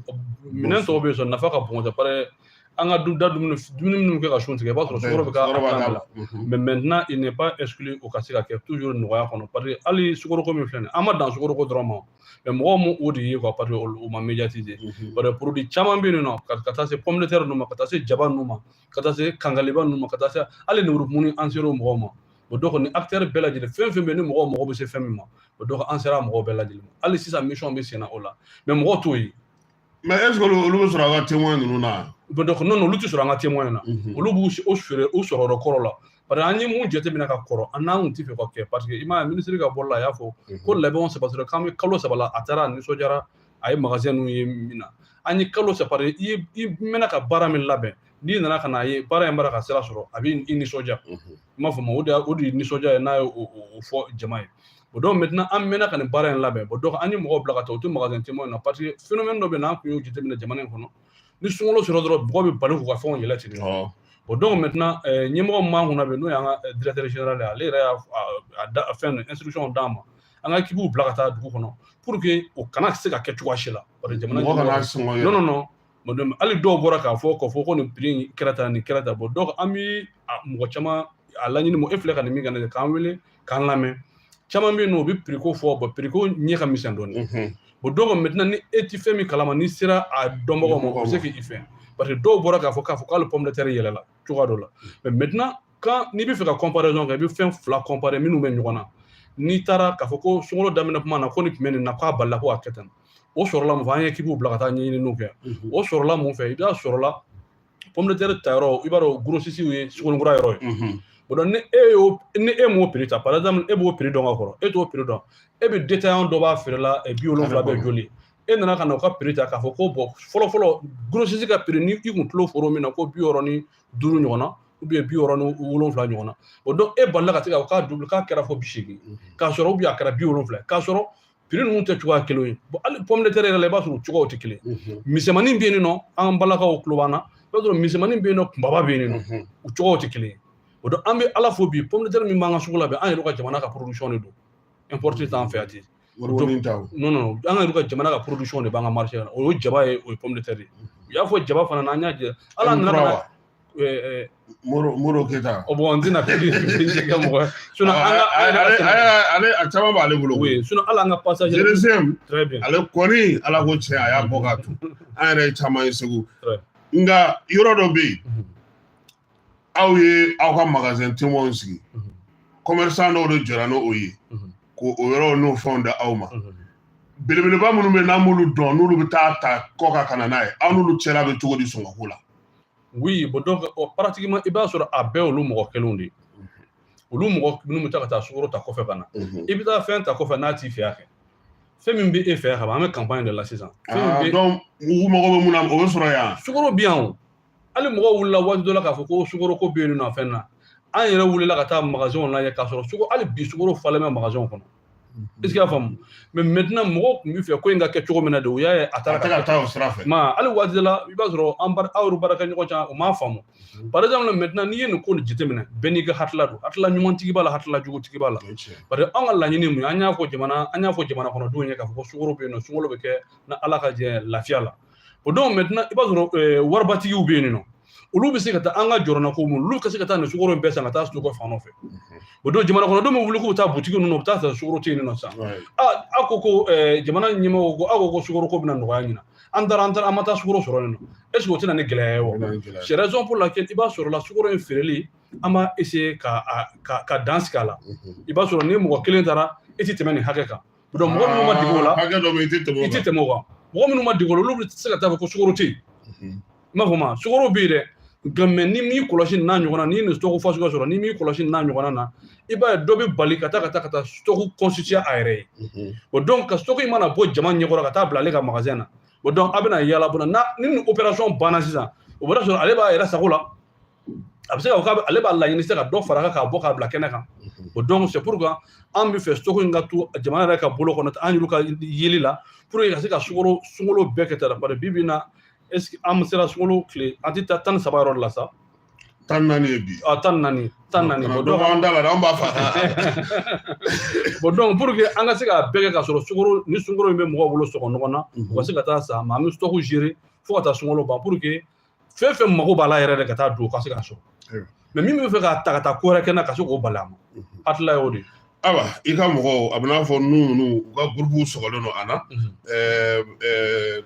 ni minɛn tɔw bɛɛ ye sukaro nafa ka bon dɛ parce que an ka da dumuni dumuni minnu kɛ ka sun tigɛ i b'a sɔrɔ sukaro bɛ k'a la mais maintenant il n'est pas exclu o ka se ka kɛ toujours nɔgɔya kɔnɔ parce que hali sukaro ko min filɛ nin an ma dan sukaro ko dɔrɔn ma mais mɔgɔw m'o de ye quoi parce que o ma médiatiser parce que produit caman bɛ yen nɔ ka taa se pomme de terre ninnu ma ka taa se jaba ninnu ma ka taa se kangaliba ninnu ma ka taa se hali lemurukumuni an ser'o mɔgɔw ma o donc ni acteur bɛɛ lajɛlen fɛn fɛn bɛ yen ni mɔgɔw mago bɛ se fɛn min ma o donc an sera mɔgɔw bɛɛ lajɛlen ma hali sisan mission bɛ senna o la mais mɔgɔw t'o ye mais est ce que olu bɛ sɔrɔ an ka témoin ninnu na bon donc non olu tɛ sɔrɔ an ka témoin na olu b'u u feere u sɔrɔ yɔrɔ kɔrɔ la parce que an ye mun jateminɛ ka kɔrɔ an n'an kun tɛ fɛ ka kɛ parce que i m'a ye minisiri ka bɔli la a y'a fɔ ko labɛnw sabatira k'an bɛ kalo saba la a taara a nisɔndiyara a ye magasin ninnu ye min na an ye kalo saba de i i mɛnna ka baara min labɛn n'i nana ka n'a ye baara in bara ka sira sɔrɔ a bɛ i nisɔndiya i m'a fɔ ma o de o de ye nisɔndiya ye n'a ye o fɔ jama ye bon donc maintenant an mɛnna ka nin baara in labɛn bon donc an ye mɔgɔw bila ka taa u tɛ magasin témoin na parce que phénomène dɔ bɛ na an kun y'o jateminɛ jamana in kɔnɔ ni sunkalo sɔrɔ dɔrɔn mɔgɔw bɛ bali k'u ka fɛnw yɛlɛ ten bon donc maintenant eh, ɲɛmɔgɔ min b'an kunna bɛ n'o y'an ka eh, directeur général ale yɛrɛ y'a fɛn instruction d'an ma an ka équipew bila ka taa dugu kɔnɔ pour que o kana se ka kɛ cogoya si la jamana non non non mɔdɛmɛ hali dɔw bɔra k'a fɔ k'a fɔ ko nin prix in kɛra tan nin kɛra tan bon donc an bi mɔgɔ caman a laɲini mɔgɔ e filɛ ka nin min ka na k'an wele k'an lamɛn caman bɛ yen nɔ u bɛ prix ko fɔ bon prix ko ɲɛ ka misɛn dɔɔnin bon donc maintenant ni e ti fɛn min kalama n'i sera a dɔnbagaw ma o bɛ se k'i fɛn parce que dɔw bɔra k'a fɔ k'a fɔ k'ale pomme de terre yɛlɛla cogoya dɔ la mais maintenant quand n'i bɛ fɛ ka comparaison kɛ i bɛ fɛn fila comparer minnu bɛ ɲɔgɔn na n'i taara k'a fɔ ko sunkalo daminɛ kuma na ko nin tun bɛ nin na k'a balila ko a kɛ tan o sɔrɔla mun fɛ an ye équipew bila ka taa ɲɛɲiniw kɛ o sɔrɔla mun fɛ i b'a sɔrɔla pomme de terre ta yɔrɔ i b'a dɔn grossistew ye sugunikura yɔrɔ ye bon donc ni e y'o ni e m'o prix ta par exemple e b'o prix dɔn ka kɔrɔ e t'o prix dɔn e bɛ détaillant dɔ b'a feere la bi wolonwula bɛ joli e nana ka na u ka prix ta k'a fɔ ko bon fɔlɔ fɔlɔ grossiste ka prix ni i kun tulo foro min na ko bi wɔɔrɔ ni duuru ɲɔgɔn na ou bien bi wɔɔrɔ ni wolonwula ɲɔgɔn na o donc e balila ka se ka u k'a doubler k'a kɛra fɔ bi seegin k'a sɔrɔ ou bien a kɛra bi wolonwula k'a sɔrɔ prix ninnu tɛ cogoya kelen ye bon hali pomme de terre yɛrɛ la i b'a sɔrɔ u cogoyaw tɛ kelen misɛnmanin bɛ yen nɔ an ka balakaw tulo b'an na i b'a sɔrɔ misɛnmanin bɛ yen nɔ kunbaba bɛ yen nɔ u cogoyaw tɛ kelen ye o donc an bɛ ala fo bi pomme de terre min b'an ka sugu la bi an yɛrɛ ka jamana ka production de don importé t'an fɛ yan ten non non an yɛrɛ ka jamana ka production de b'an ka marché la o ye jaba ye o ye pomme de terre ye u y'a fɔ jaba fana na an y'a jɛ ala nana eh, eh, Moro Moro Keyita. o bon n tɛna fɛn jɛ kɛ mɔgɔ ye sinon an ka ale ale ale a caman b'ale bolo koyi oui sinon hali an ka passage Jereseum très bien ale kɔni ala ko tiɲɛ a y'a bɔ k'a turu an yɛrɛ ye caman ye segu Ouais. nka yɔrɔ dɔ bɛ yen Mhm. aw ye aw ka magasin témoins sigi Mhm. commerçant dɔw de jɔra n'o ye Mhm. ko o yɔrɔw n'o fɛnw da aw ma Mhm. belebeleba minnu bɛ yen n'an b'olu dɔn n'olu bɛ taa ta kɔ ka kana n'a ye aw n'olu cɛla bɛ cogo di sɔngɔko la oui bon donc oh, pratiquement i b'a sɔrɔ a bɛɛ olu mɔgɔ kelenw de ye olu mɔgɔ minnu bɛ taa ka taa sukoro ta kɔfɛ ka na i bɛ taa fɛn ta kɔfɛ n'a t'i fɛ yan kɛ fɛn min bɛ e fɛ yan ka ban an bɛ campagne de la sisan ah, donc u mago bɛ mun na o bɛ sɔrɔ yan sukoro bɛ yan o hali mɔgɔw wulila waati dɔ la k'a fɔ ko sukoro ko bɛ yen nɔ fɛn na an yɛrɛ wulila ka taa magasinw lajɛ k'a sɔrɔ sukoro hali bi sukoro falen bɛ magasinw kɔnɔ est ce que i y'a faamu mais maintenant mɔgɔ tun bɛ fɛ ko in ka kɛ cogo min na de o y'a ye a taara ka taa o sira fɛ mais hali waati dɔ la i b'a sɔrɔ an aw yɛrɛ baarakɛ ɲɔgɔn ca o m'a faamu par exemple maintenant n'i ye nin ko nin jateminɛ bɛɛ n'i ka hakilila don hakilila ɲumantigi b'a la hakilila jugutigi b'a la parce que an ka laɲini mun ye an y'a fɔ jamana an y'a fɔ jamana kɔnɔdenw ye k'a fɔ ko sukoro bɛ yen nɔ sunkalo bɛ kɛ na ala ka jɛ lafiya la bon donc maintenant i b'a sɔrɔ eh, waribatigiw bɛ yen nɔ olu bɛ se ka taa an ka jɔrɔnanko mun olu ka se ka taa nin sukoro in bɛɛ san ka taa stocker fan dɔ fɛ o donc jamana kɔnɔdenw bɛ wuli k'u taa butigi ninnu u bɛ taa sɔrɔ sukoro tɛ yen nɔ sisan aw ko ko eh, jamana ɲɛmɔgɔw ko aw ko ko sukoro ko bɛna nɔgɔya ɲinan an taara an taara an ma taa sukoro sɔrɔ yen nɔ est ce que o tɛna ni gɛlɛya ye wa c'est raison pour laquelle i b'a sɔrɔ la sukoro in feereli an b'a essayer ka ka dan sigi a la i b'a sɔrɔ ni mɔgɔ kelen taara i tɛ tɛmɛ nin hakɛ kan donc mɔgɔ minnu ma dege o la hakɛ dɔ bɛ i tɛ tɛmɛ o kan i tɛ tɛmɛ o kan mɔgɔ minnu ma dege o la olu bɛ se ka taa fɔ ko sukoro tɛ yen i m'a fɔ ma sukoro bɛ yen dɛ ah mais n'i m'i kɔlɔsi n'a ɲɔgɔn na n'i ye nin stock fasugu ka sɔrɔ n'i m'i kɔlɔsi n'a ɲɔgɔn na i b'a ye dɔ bɛ bali ka taa ka taa ka taa stock constituer a yɛrɛ ye bon donc ka stock in mana bɔ jama ɲɛkɔrɔ ka taa bila ale ka magasin na bon donc a bɛna y'a la bon ni nin opération banna sisan o b'a sɔrɔ ale b'a yɛrɛ sago la a bɛ se ka ale b'a laɲini se ka dɔ fara kan k'a bɔ k'a bila kɛnɛ kan o donc c'est pourquoi an bɛ fɛ stock in ka to jamana yɛrɛ ka bolo kɔnɔ an y'olu ka yeli la pour que ka se ka sukoro sunkalo bɛɛ kɛ tara parce que bi bi in na est ce que an sera sunkalo tile an tɛ taa tan ni saba yɔrɔ de la sa tan naani ye bi a tan naani tan naani bon donc an da la an b'a fa bon donc pour que an ka se k'a bɛɛ kɛ ka sɔrɔ sukoro ni sunkalo in bɛ mɔgɔw bolo sɔngɔ nɔgɔn na u ka se ka taa san mais an bɛ stock gérer fo ka taa sunkalo ban pour que fɛn fɛn mago b'a la yɛrɛ de ka taa don ka se ka sɔrɔ mais min bɛ fɛ k'a ta ka taa ko wɛrɛ kɛ na ka se k'o bali a ma hakilila y'o de ye awa i ka mɔgɔw a bɛn'a fɔ nu ninnu u ka gurupuw sɔgɔlen don a na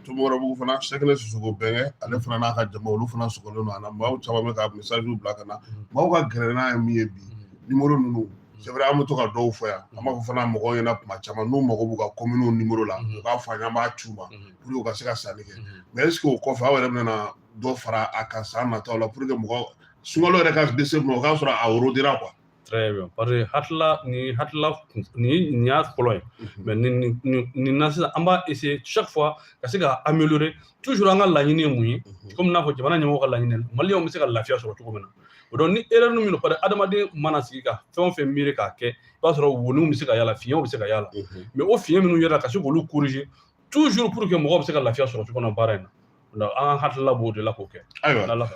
tumɔrɔbugu fana sɛkɛnɛ sisoko bɛnkɛ ale fana n'a ka jama olu fana sɔgɔlen don a na maaw caman bɛ ka message bila ka na maaw ka gɛlɛya ye min ye bi nimoro ninnu c'est vrai an bɛ to ka dɔw fɔ yan an b'a fɔ fana mɔgɔw ɲɛna kuma caman n'u mago b'u ka kominiw nimoro la u k'a fɔ an ye an b'a ci u ma pour que u ka se ka sanni kɛ mais est ce que o kɔfɛ aw yɛrɛ bɛna dɔ fara a kan san nataw la pour que mɔgɔ sunkalo yɛrɛ ka se ma o k'a sɔrɔ a worodira quoi très bien parce que hakilila ni hakilila ni nin y'a fɔlɔ ye mais nin nin nin na sisan an b'a essayer chaque fois ka se ka améliorer toujours an ka laɲini ye mun ye komi n'a fɔ jamana ɲɛmɔgɔ ka laɲini ye maliyɛnw bɛ se ka lafiya sɔrɔ cogo min na o donc ni erreur min don parce que adamaden mana sigi ka fɛn o fɛn miiri k'a kɛ i b'a sɔrɔ woniw bɛ se ka y'a la fiɲɛw bɛ se ka y'a la mais o fiɲɛ minnu yera ka se k'olu corriger toujours pour que mɔgɔ bɛ se ka lafiya sɔrɔ cogo min na baara in na an hakilila b'o de la k'o kɛ ayiwa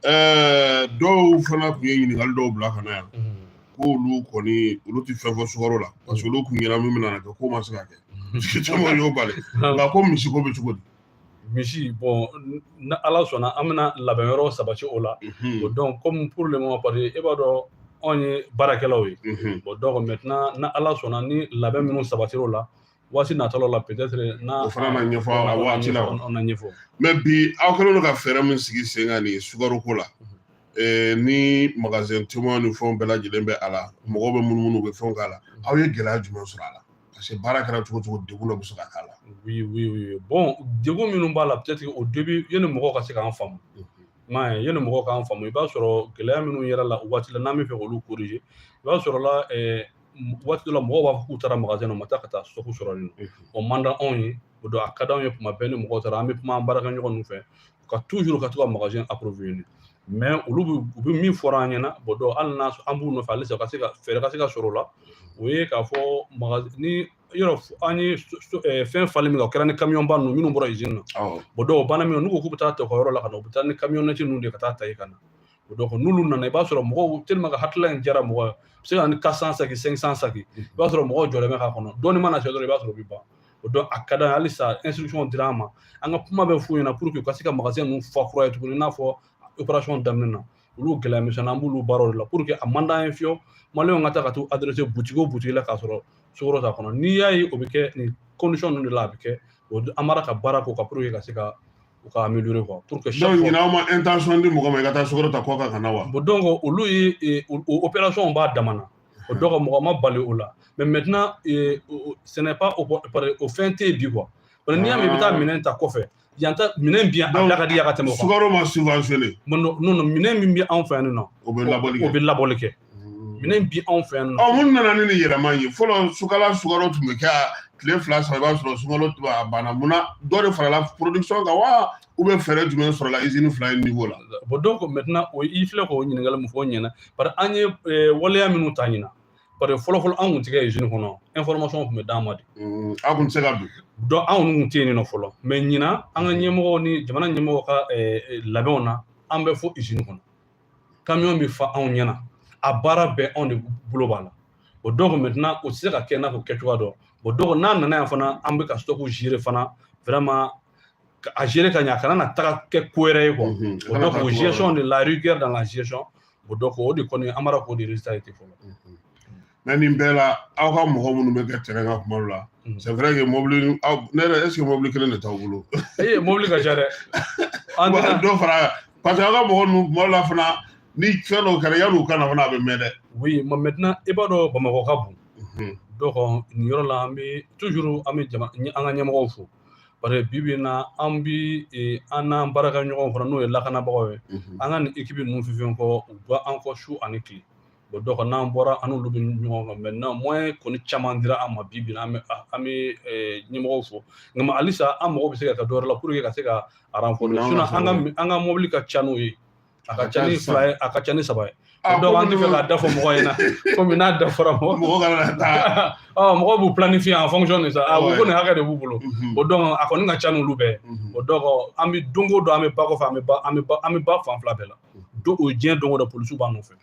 ɛɛ dɔw fana tun ye ɲininkali dɔw bila ka na yan k'olu kɔni olu tɛ fɛn fɔ sukaro la parce que olu kun ɲɛna min bɛna kɛ k'o ma se ka kɛ caman y'o bali nka ko misi ko bɛ cogo di misi bon ni ala sɔnna an bɛna labɛn yɔrɔ sabati o la o donc comme pour le moment parce que e b'a dɔn anw ye baarakɛlaw ye bon donc maintenant ni ala sɔnna ni labɛn minnu sabatira o la waati nataw la peut-être n'a o fana na ɲɛfɔ a waati la o na ɲɛfɔ mais bi aw kɛlen don ka fɛɛrɛ min sigi sen kan nin sukaro ko la eh, ni magasin caman ni fɛnw bɛɛ lajɛlen bɛ a la mɔgɔw bɛ munumunu u bɛ fɛnw k'a la aw ye gɛlɛya jumɛn sɔrɔ a la parce que baara kɛra cogo cogo degun dɔ bɛ se ka k'a la oui oui oui bon degun minnu b'a la peut-être au début yanni mɔgɔw ka se k'an faamu m'a ye yanni mɔgɔw k'an faamu i b'a sɔrɔ gɛlɛya minnu yera a la o waati la n'an b'a fɛ k'olu corriger i b'a sɔrɔ la eh, waati dɔ la mɔgɔw b'a fɔ k'u taara magasin na u ma taa ka taa stock sɔrɔ yen nɔ o man di anw ye o donc a ka d'anw ye tuma bɛɛ ni mɔgɔw taara an bɛ kuma an baarakɛɲɔgɔn ninnu fɛ ka toujours ka to ka magasin approvisionner mais olu bɛ u bɛ min fɔra an ɲɛna bon donc hali n'a an b'u nɔfɛ halisa ka se ka fɛɛrɛ ka se ka sɔrɔ o la o ye k'a fɔ magasin nin yɔrɔ an ye fɛn falen min kɛ o kɛra ni kamiyɔnba ninnu minnu bɔra izini na bon donc o banna min n'u ko k'u bɛ taa ta u ka yɔrɔ la ka na u bɛ taa ni kamiyɔnnɛti ninnu de ka taa ta yen ka na o donc n'olu nana i b'a sɔrɔ mɔgɔw tellement que hakilila in diyara mɔgɔ ye a bɛ se ka ni quatre cents sacs cinq cents sacs i b'a sɔrɔ mɔgɔw jɔlen bɛ k'a kɔnɔ dɔɔni mana se dɔrɔn i b'a sɔrɔ o bɛ ban o donc a ka d'an ye halisa instruction dira an ma an ka kuma bɛ f'u ɲɛna pour que u ka se ka magasin ninnu fa kura ye tuguni i n'a fɔ opération daminɛ na olu gɛlɛya misɛnnin an b'olu baaraw de la pour que a man d'an ye fiyewu maliyɛnw ka taa ka t'u adresser butigi o butigi la k'a sɔrɔ sukaro t'a kɔnɔ n'i y'a ye o bɛ kɛ nin condition ninnu de la a bɛ kɛ o an b'a la ka baara k'o kan pour que ka se ka u ka améliorer quoi pour que chaque fois donc ɲina aw ma intention di mɔgɔ ma i ka taa sukaro ta kɔ kan ka na wa bon donc olu ye e, o opération b'a dama na o donc mɔgɔ ma bali o la mais maintenant e, ce n'est pas o fɛn tɛ yen bi quoi parce que n'i y'a mɛn i bɛ taa ah. minɛn ta kɔfɛ yan ta minɛn bi yan a da ka di yan ka tɛmɛ o kan sukaro ma subventionné non non minɛn min bɛ anw fɛ yan nɔ o bɛ labɔli kɛ o bɛ labɔli kɛ minɛn bi anw fɛ yan nɔ mun nana ni nin yɛlɛma ye fɔlɔ sukala sukaro tun bɛ kɛ tile fila saba i b'a sɔrɔ sukaro a banna mun na dɔ de farala production kan wa ou bien fɛɛrɛ jumɛn sɔrɔla izini fila in niveau la bon donc maintenant o i filɛ k'o ɲininkali min fɔ o ɲɛna parce que an ye waleya minnu ta ɲina parce que fɔlɔ fɔlɔ an kun tɛ kɛ izini kɔnɔ information tun bɛ d'an ma de anw kun tɛ se ka don donc anw kun tɛ yen nɔ fɔlɔ mais ɲina an ka ɲɛmɔgɔw ni jamana ɲɛmɔgɔw ka labɛnw na an bɛ fo izini kɔnɔ kamiyɔn bɛ fa anw ɲɛna a baara bɛɛ anw de bolo b'a la o donc maintenant o tɛ se ka kɛ n'a ko kɛcogoya dɔn o donc n'a nana yan fana an bɛ ka stock gérer fana vraiment a gérer ka ɲɛ a kana na taga kɛ ko wɛrɛ ye quoi o donc o gestion de la rigueur dans la gestion o donc o de kɔni an b'a dɔn k'o de résultat ye ten fɔlɔ mais nin bɛɛ la aw ka mɔgɔ minnu bɛ kɛ terrain kan tuma dɔ la mhm. c'est vrai que mobili ne yɛrɛ est ce que mobili kelen de t'aw bolo ee mobili ka ca dɛ an tɛna dɔ fara parce que aw ka mɔgɔ ninnu tuma dɔ la fana ni fɛn dɔw kɛra yanni u ka na fana a bɛ mɛn dɛ oui mais maintenant i b'a dɔn bamakɔ ka bon mhm. donc nin yɔrɔ la an bɛ toujours an bɛ jama an ka ɲɛmɔgɔw fo parce que bi bi in na an bi e, an n'an baarakɛɲɔgɔnw fana n'o ye lakanabagaw ye mhm. an ka nin ekipi ninnu fɛn fɛn kɔ u b'an kɔ su ani tile o donc n'an bɔra an n'olu bɛ ɲɔgɔn kan maintenant moyen kɔni caman dira an ma bi bi in na an bɛ ɲɛmɔgɔw fo nka mais halisa an mago bɛ se ka kɛ dɔ wɛrɛ la pour que ka se ka renforcer sinon an ka mobili ka ca n'o ye a ka ca ni fila ye a ka ca ni saba ye donc an tɛ fɛ k'a da fɔ mɔgɔ ɲɛna komi n'a da fɔra mɔgɔ mɔgɔ kana taa mɔgɔw b'u planifier en fonction de ça ko nin hakɛ de b'u bolo o donc a kɔni ka ca n'olu bɛɛ o donc an bɛ don o don an bɛ ba kɔfɛ an bɛ ba an bɛ ba fan fila bɛɛ la don o diɲɛ don o don polisiw b'an nɔfɛ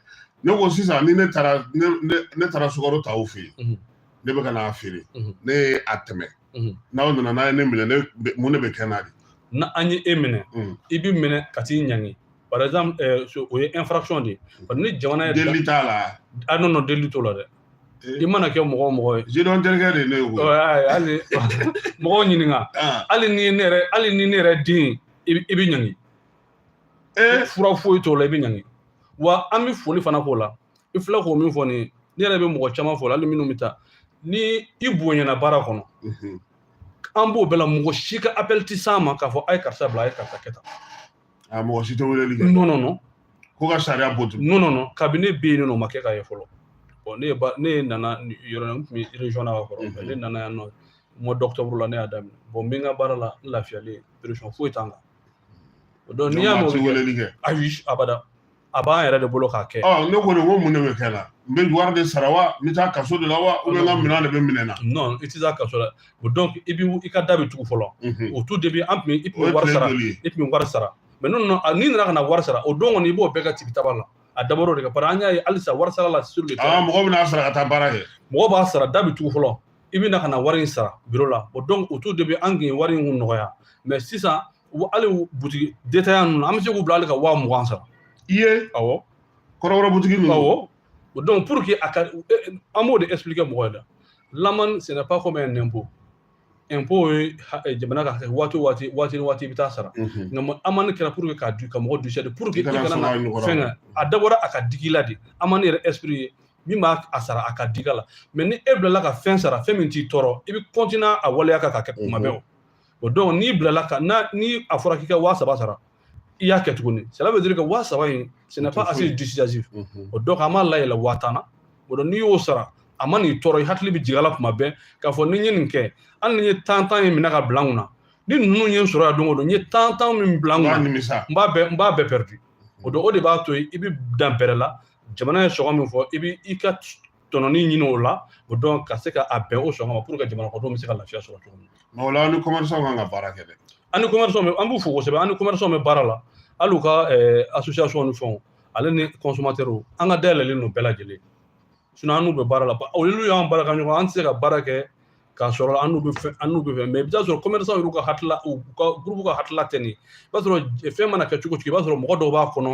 ne ko sisan ni ne taara ne ne ne taara sukaro ta aw fɛ yen Mhm. ne bɛ ka n'a feere Mhm. ne ye a tɛmɛ Mhm. n'aw nana n'a ye ne minɛ ne bɛ- mun de bɛ kɛ n na dɛ n'an ye e minɛ Mhm. i bi minɛ ka t'i ɲangi par exemple eh, so- o ye infraction de ye Parce que ni jamana ye deli t'a la ah non non deli t'o la dɛ Eh. i mana kɛ mɔgɔ o mɔgɔ ye président terikɛ de ye ne ye koyi ɔ, ayi, hali mɔgɔw ɲininka Ah, hali ni ne yɛrɛ hali ni ne yɛrɛ den ye, i bi- i bi ɲangi fura foyi t'o la i bɛ ɲangi wa an bɛ foli fana k'o la i filɛ k'o min fɔ nin ye ne yɛrɛ bɛ mɔgɔ caman fo hali minnu bɛ taa ni i bonyana baara kɔnɔ an b'o bɛɛ la mɔgɔ si ka appel ti s'an ma k'a fɔ a ye karisa bila a ye karisa kɛ tan mɔgɔ si tɛ weleli kɛ non non non ko ka sariya bɔ ten non non non kabini ne bɛ yen nɔ o ma kɛ ka ye fɔlɔ bon ne ye ne nana yɔrɔ la n tun bɛ région na ka kɔrɔ ne nana yan nɔ mois d'octobre la ne y'a daminɛ bon n bɛ n ka baara la n lafiyalen pression foyi t'an kan Donc n'i y'a mɛn u bɛ weleli kɛ ayi abada a b'an yɛrɛ de bolo k'a kɛ ɔ ne kɔni ko mun de bɛ kɛ la n bɛ wari de sara wa n bɛ taa kaso de la wa ou bien n ka minɛn de bɛ minɛ na non i tɛ taa kaso la o donc i bɛ i ka da bɛ tugu fɔlɔ au tout début an tun bɛ i tun bɛ wari sara i tun bɛ wari sara mais n'o nana n'i nana ka na wari sara o don kɔni i b'o bɛɛ ka tigi taba la a dabɔra o de kama parce que an y'a ye halisa wari sara la sur le terrain mɔgɔ bɛn'a sara ka taa baara kɛ mɔgɔ b'a sara da bɛ tugu fɔlɔ i bɛ na ka na wari in sara biro la o donc au tout début an tun ye wari in nɔgɔya mais sisan hali butigi détaillant ninnu an bɛ se k'u bila hali ka waa mugan sara i ye awɔ kɔrɔbɔrɔ butigi ninnu awɔ o donc pour que a ka an b'o de expliquer mɔgɔ ye dɛ l'amende ce n'est pas comme un impôt impôt ye jamana ka waati waati waati ni waati i bɛ taa sara nka amani kɛra pour que ka du ka mɔgɔ dissuader pour que i kana na fɛn a dabɔra a ka digi i la de amani yɛrɛ esprit ye min b'a sara a ka digi a la mais ni e bilala ka fɛn sara fɛn min t'i tɔɔrɔ i bɛ continuer a waleya kan ka kɛ kuma bɛɛ o donc n'i bilala ka na ni a fɔra k'i ka waa saba sara i y'a kɛ tuguni ça veut dire que waa saba in ce n'est pas assez dissuasif o donc an b'a layɛlɛ waa tan na o donc n'i y'o sara a man'i tɔɔrɔ i hakili bɛ jigin a la kuma bɛɛ k'a fɔ ni n ye nin kɛ hali ni n ye tan tan in minɛ ka bila n kunna ni ninnu ye n sɔrɔ yan don o don n ye tan tan min bila n kunna n b'a bɛɛ perdu o donc o de b'a to i bɛ dan bɛrɛ la jamana ye sɔngɔ min fɔ i bɛ i ka tɔnɔni ɲini o la o donc ka se ka a bɛn o sɔngɔ ma pour que jamana kɔnɔdenw bɛ se ka lafiya sɔrɔ cogo min na. o la an ni commerçant kan ka baara kɛ dɛ. an ni commerçant bɛ an b'u fo kosɛbɛ an ni commerçant bɛ baara la hali u ka association ni fɛnw ale ni consommateur an ka da yɛlɛlen don bɛɛ lajɛlen sinon an n'u bɛ baara la olu y'an baarakɛɲɔgɔn an tɛ se ka baara kɛ k'a sɔrɔ an n'u bɛ fɛn an n'u bɛ fɛn mais i bɛ t'a sɔrɔ commerçant yɛrɛ ka hakilila u ka groupe ka hakilila tɛ nin i b'a sɔrɔ fɛn mana kɛ cogo o cogo i b'a sɔrɔ mɔgɔ dɔw b'a kɔnɔ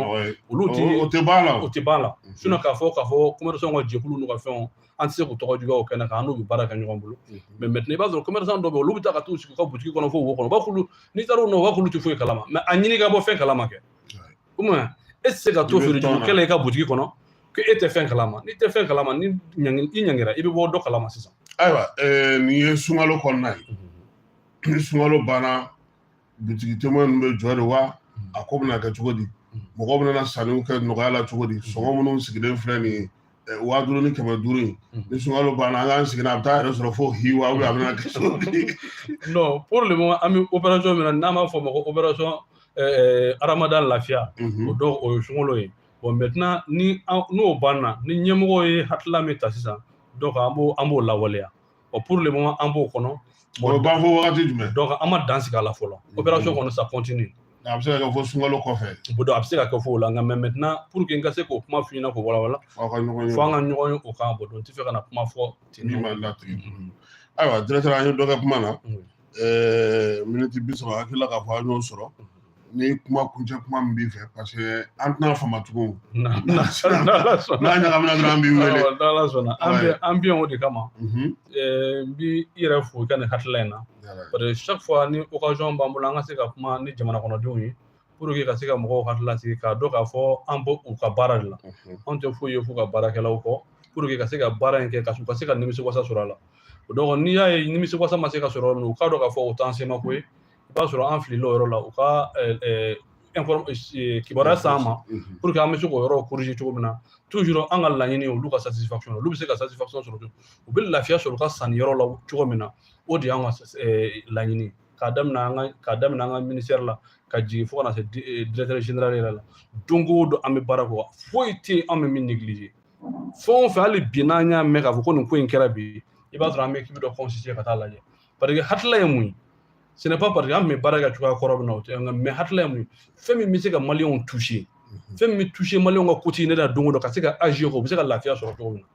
olu tɛ o tɛ ban la o tɛ ban la sinon k'a fɔ k'a fɔ commerçant ka jɛkulu n'u ka fɛnw an tɛ se k'u tɔgɔ juguya o kɛnɛ kan an n'u bɛ baara kɛ ɲɔgɔn bolo mais maintenant i b'a sɔrɔ commerçant dɔw bɛ yen olu bɛ taa ka t'u sigi u ka butigi kɔnɔ fo wo kɔnɔ u b'a f'olu n'i taara u nɔ u b'a f'olu tɛ foyi kalama mais a ɲini ka bɔ fɛn kalama kɛ o tuma e tɛ se ka to feere jugu kɛ la i ka butigi kɔnɔ ko e tɛ fɛn kalama n'i tɛ fɛn kalama ni i ɲangira i bɛ bɔ dɔ kalama sisan ayiwa nin ye sunkalo kɔnɔna ye mhm. ni sunkalo banna butigi témoin ninnu bɛ jɔ de wa mhm. a ko bɛna kɛ cogo di mhm. mɔgɔ bɛna sanniw kɛ nɔgɔya la cogo di sɔngɔ minnu sigilen filɛ nin ye waa duuru ni kɛmɛ duuru in ni sunkalo banna an k'an sigi n'a a bɛ taa yɛrɛ sɔrɔ fo hiwa a bɛna kɛ cogo di non pour le moment an bɛ opération min na n'an b'a fɔ o ma ko opération aramadan lafiya o donc o ye sunkalo ye bon maintenant ni n'o banna ni ɲɛmɔgɔ ye hakilila min ta sisan donc an b'o an b'o lawaleya o pour le moment an b'o kɔnɔ o b'a fɔ wagati jumɛn donc an ma dan sigi a la fɔlɔ mm-hmm. opération kɔnɔ ça continue a bɛ se ka kɛ fo sunkalo kɔfɛ bon donc a bɛ se ka kɛ fo o la nka mais maintenant pour que n ka se k'o kuma f'i ɲɛ na k'o walawala fo an ka ɲɔgɔn ye fo an ka ɲɔgɔn ye o kan bon donc n tɛ fɛ ka na kuma fɔ ten min ma latigɛ ayiwa directeur an ye dɔ kɛ kuma na ɛɛ miniti bi saba hakili la k'a fɔ an y'o sɔrɔ ni kuma kuncɛ kuma min b'i fɛ parce que an tɛna fama tugun n'a ɲagamina dɔrɔn an b'i wele n'Ala sɔnna an bɛ yan o de kama n bi i yɛrɛ fo i ka nin hakilila in na parce que chaque fois ni occasion b'an bolo an ka se ka kuma ni jamana kɔnɔdenw ye pour que ka se ka mɔgɔw hakili lasigi k'a dɔn k'a fɔ an b'u ka baara de la anw tɛ foyi ye f'u ka baarakɛlaw kɔ pour que ka se ka baara in kɛ ka ka se ka nimisi wasa sɔrɔ a la o donc n'i y'a ye nimisi wasa ma se ka sɔrɔ yɔrɔ min u k'a dɔn k'a fɔ o t'an sema ko ye i b'a sɔrɔ an filila o yɔrɔ la u ka kibaruya s'an ma pour que an bɛ se k'o yɔrɔ corriger cogo min na toujours an ka laɲini olu ka satisfaction olu bɛ se ka satisfaction sɔrɔ u bɛ lafiya sɔrɔ u ka sanni yɔrɔ la cogo min na o de y'an ka laɲini ye k'a daminɛ an ka ministère la ka jigin fo ka na se directeur général yɛrɛ la don o don an bɛ baara kɛ foyi tɛ yen an bɛ min neglige fɛn o fɛn hali bi n'an y'a mɛn k'a fɔ ko nin ko in kɛra bi i b'a sɔrɔ an bɛ ekipi dɔ constituer ka taa lajɛ parce que hakilila ye mun ye ce n'est pas parce que an tun bɛ baara kɛ cogoya kɔrɔ min na o tɛ nka mɛ hakilila ye mun ye fɛn min bɛ se ka maliyɛnw toucher fɛn min bɛ toucher maliyɛnw ka kote ne la don o don ka se ka agir o bɛ se ka lafiya sɔrɔ cogo min na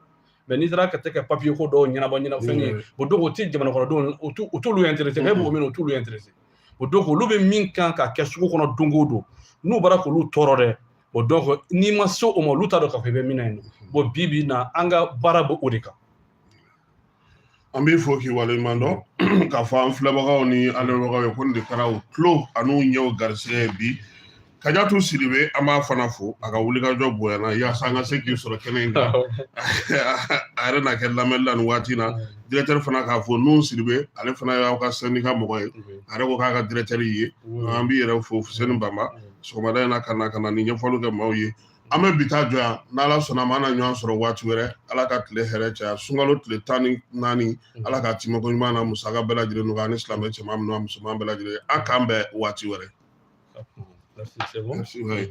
mɛ n'i taara ka tɛ ka papiye ko dɔw ɲɛnabɔ ɲɛfɛ yen bon donc o tɛ jamana kɔnɔdenw o t'olu interese e b'o min o t'olu interese bon donc olu bɛ min kan ka kɛ sugu kɔnɔ don o don n'o b'a la k'olu tɔɔrɔ dɛ bon donc n'i ma se o ma olu t'a dɔn k'a fɔ i bɛ min na yen bon bi bi in na an ka baara bɛ o de kan an b'i fo k'i waleɲuman dɔn k'a fɔ an filɛbagaw ni an lamɛnbagaw ye ko nin de kɛra u tulo an'u ɲɛw garisigɛ ye bi Kajatu Sidibe an b'a fana fo a ka wulikajɔ bonyana yaasa an ka se k'i sɔrɔ kɛnɛ in kan a yɛrɛ na kɛ lamɛnni la nin waati in na directeur fana k'a fo Nuhun Sidibe ale fana y'aw ka sɛndika mɔgɔ ye a yɛrɛ ko k'a ka directeur y'i ye an b'i yɛrɛ fo Fuseni Bamba sɔgɔmada in na ka na ka na nin ɲɛfɔliw kɛ maaw ye an bɛ bi ta jɔ yan n'ala sɔnna a ma an na ɲɔgɔn sɔrɔ waati wɛrɛ ala ka tile hɛrɛ caya sunkalo tile tan ni naani ala ka timako ɲuman na musaka bɛɛ lajɛlen nɔgɔya ani silamɛ cɛman ni a musoman bɛɛ lajɛlen a k'an bɛn waati wɛrɛ Merci, c'est bon. Merci, oui.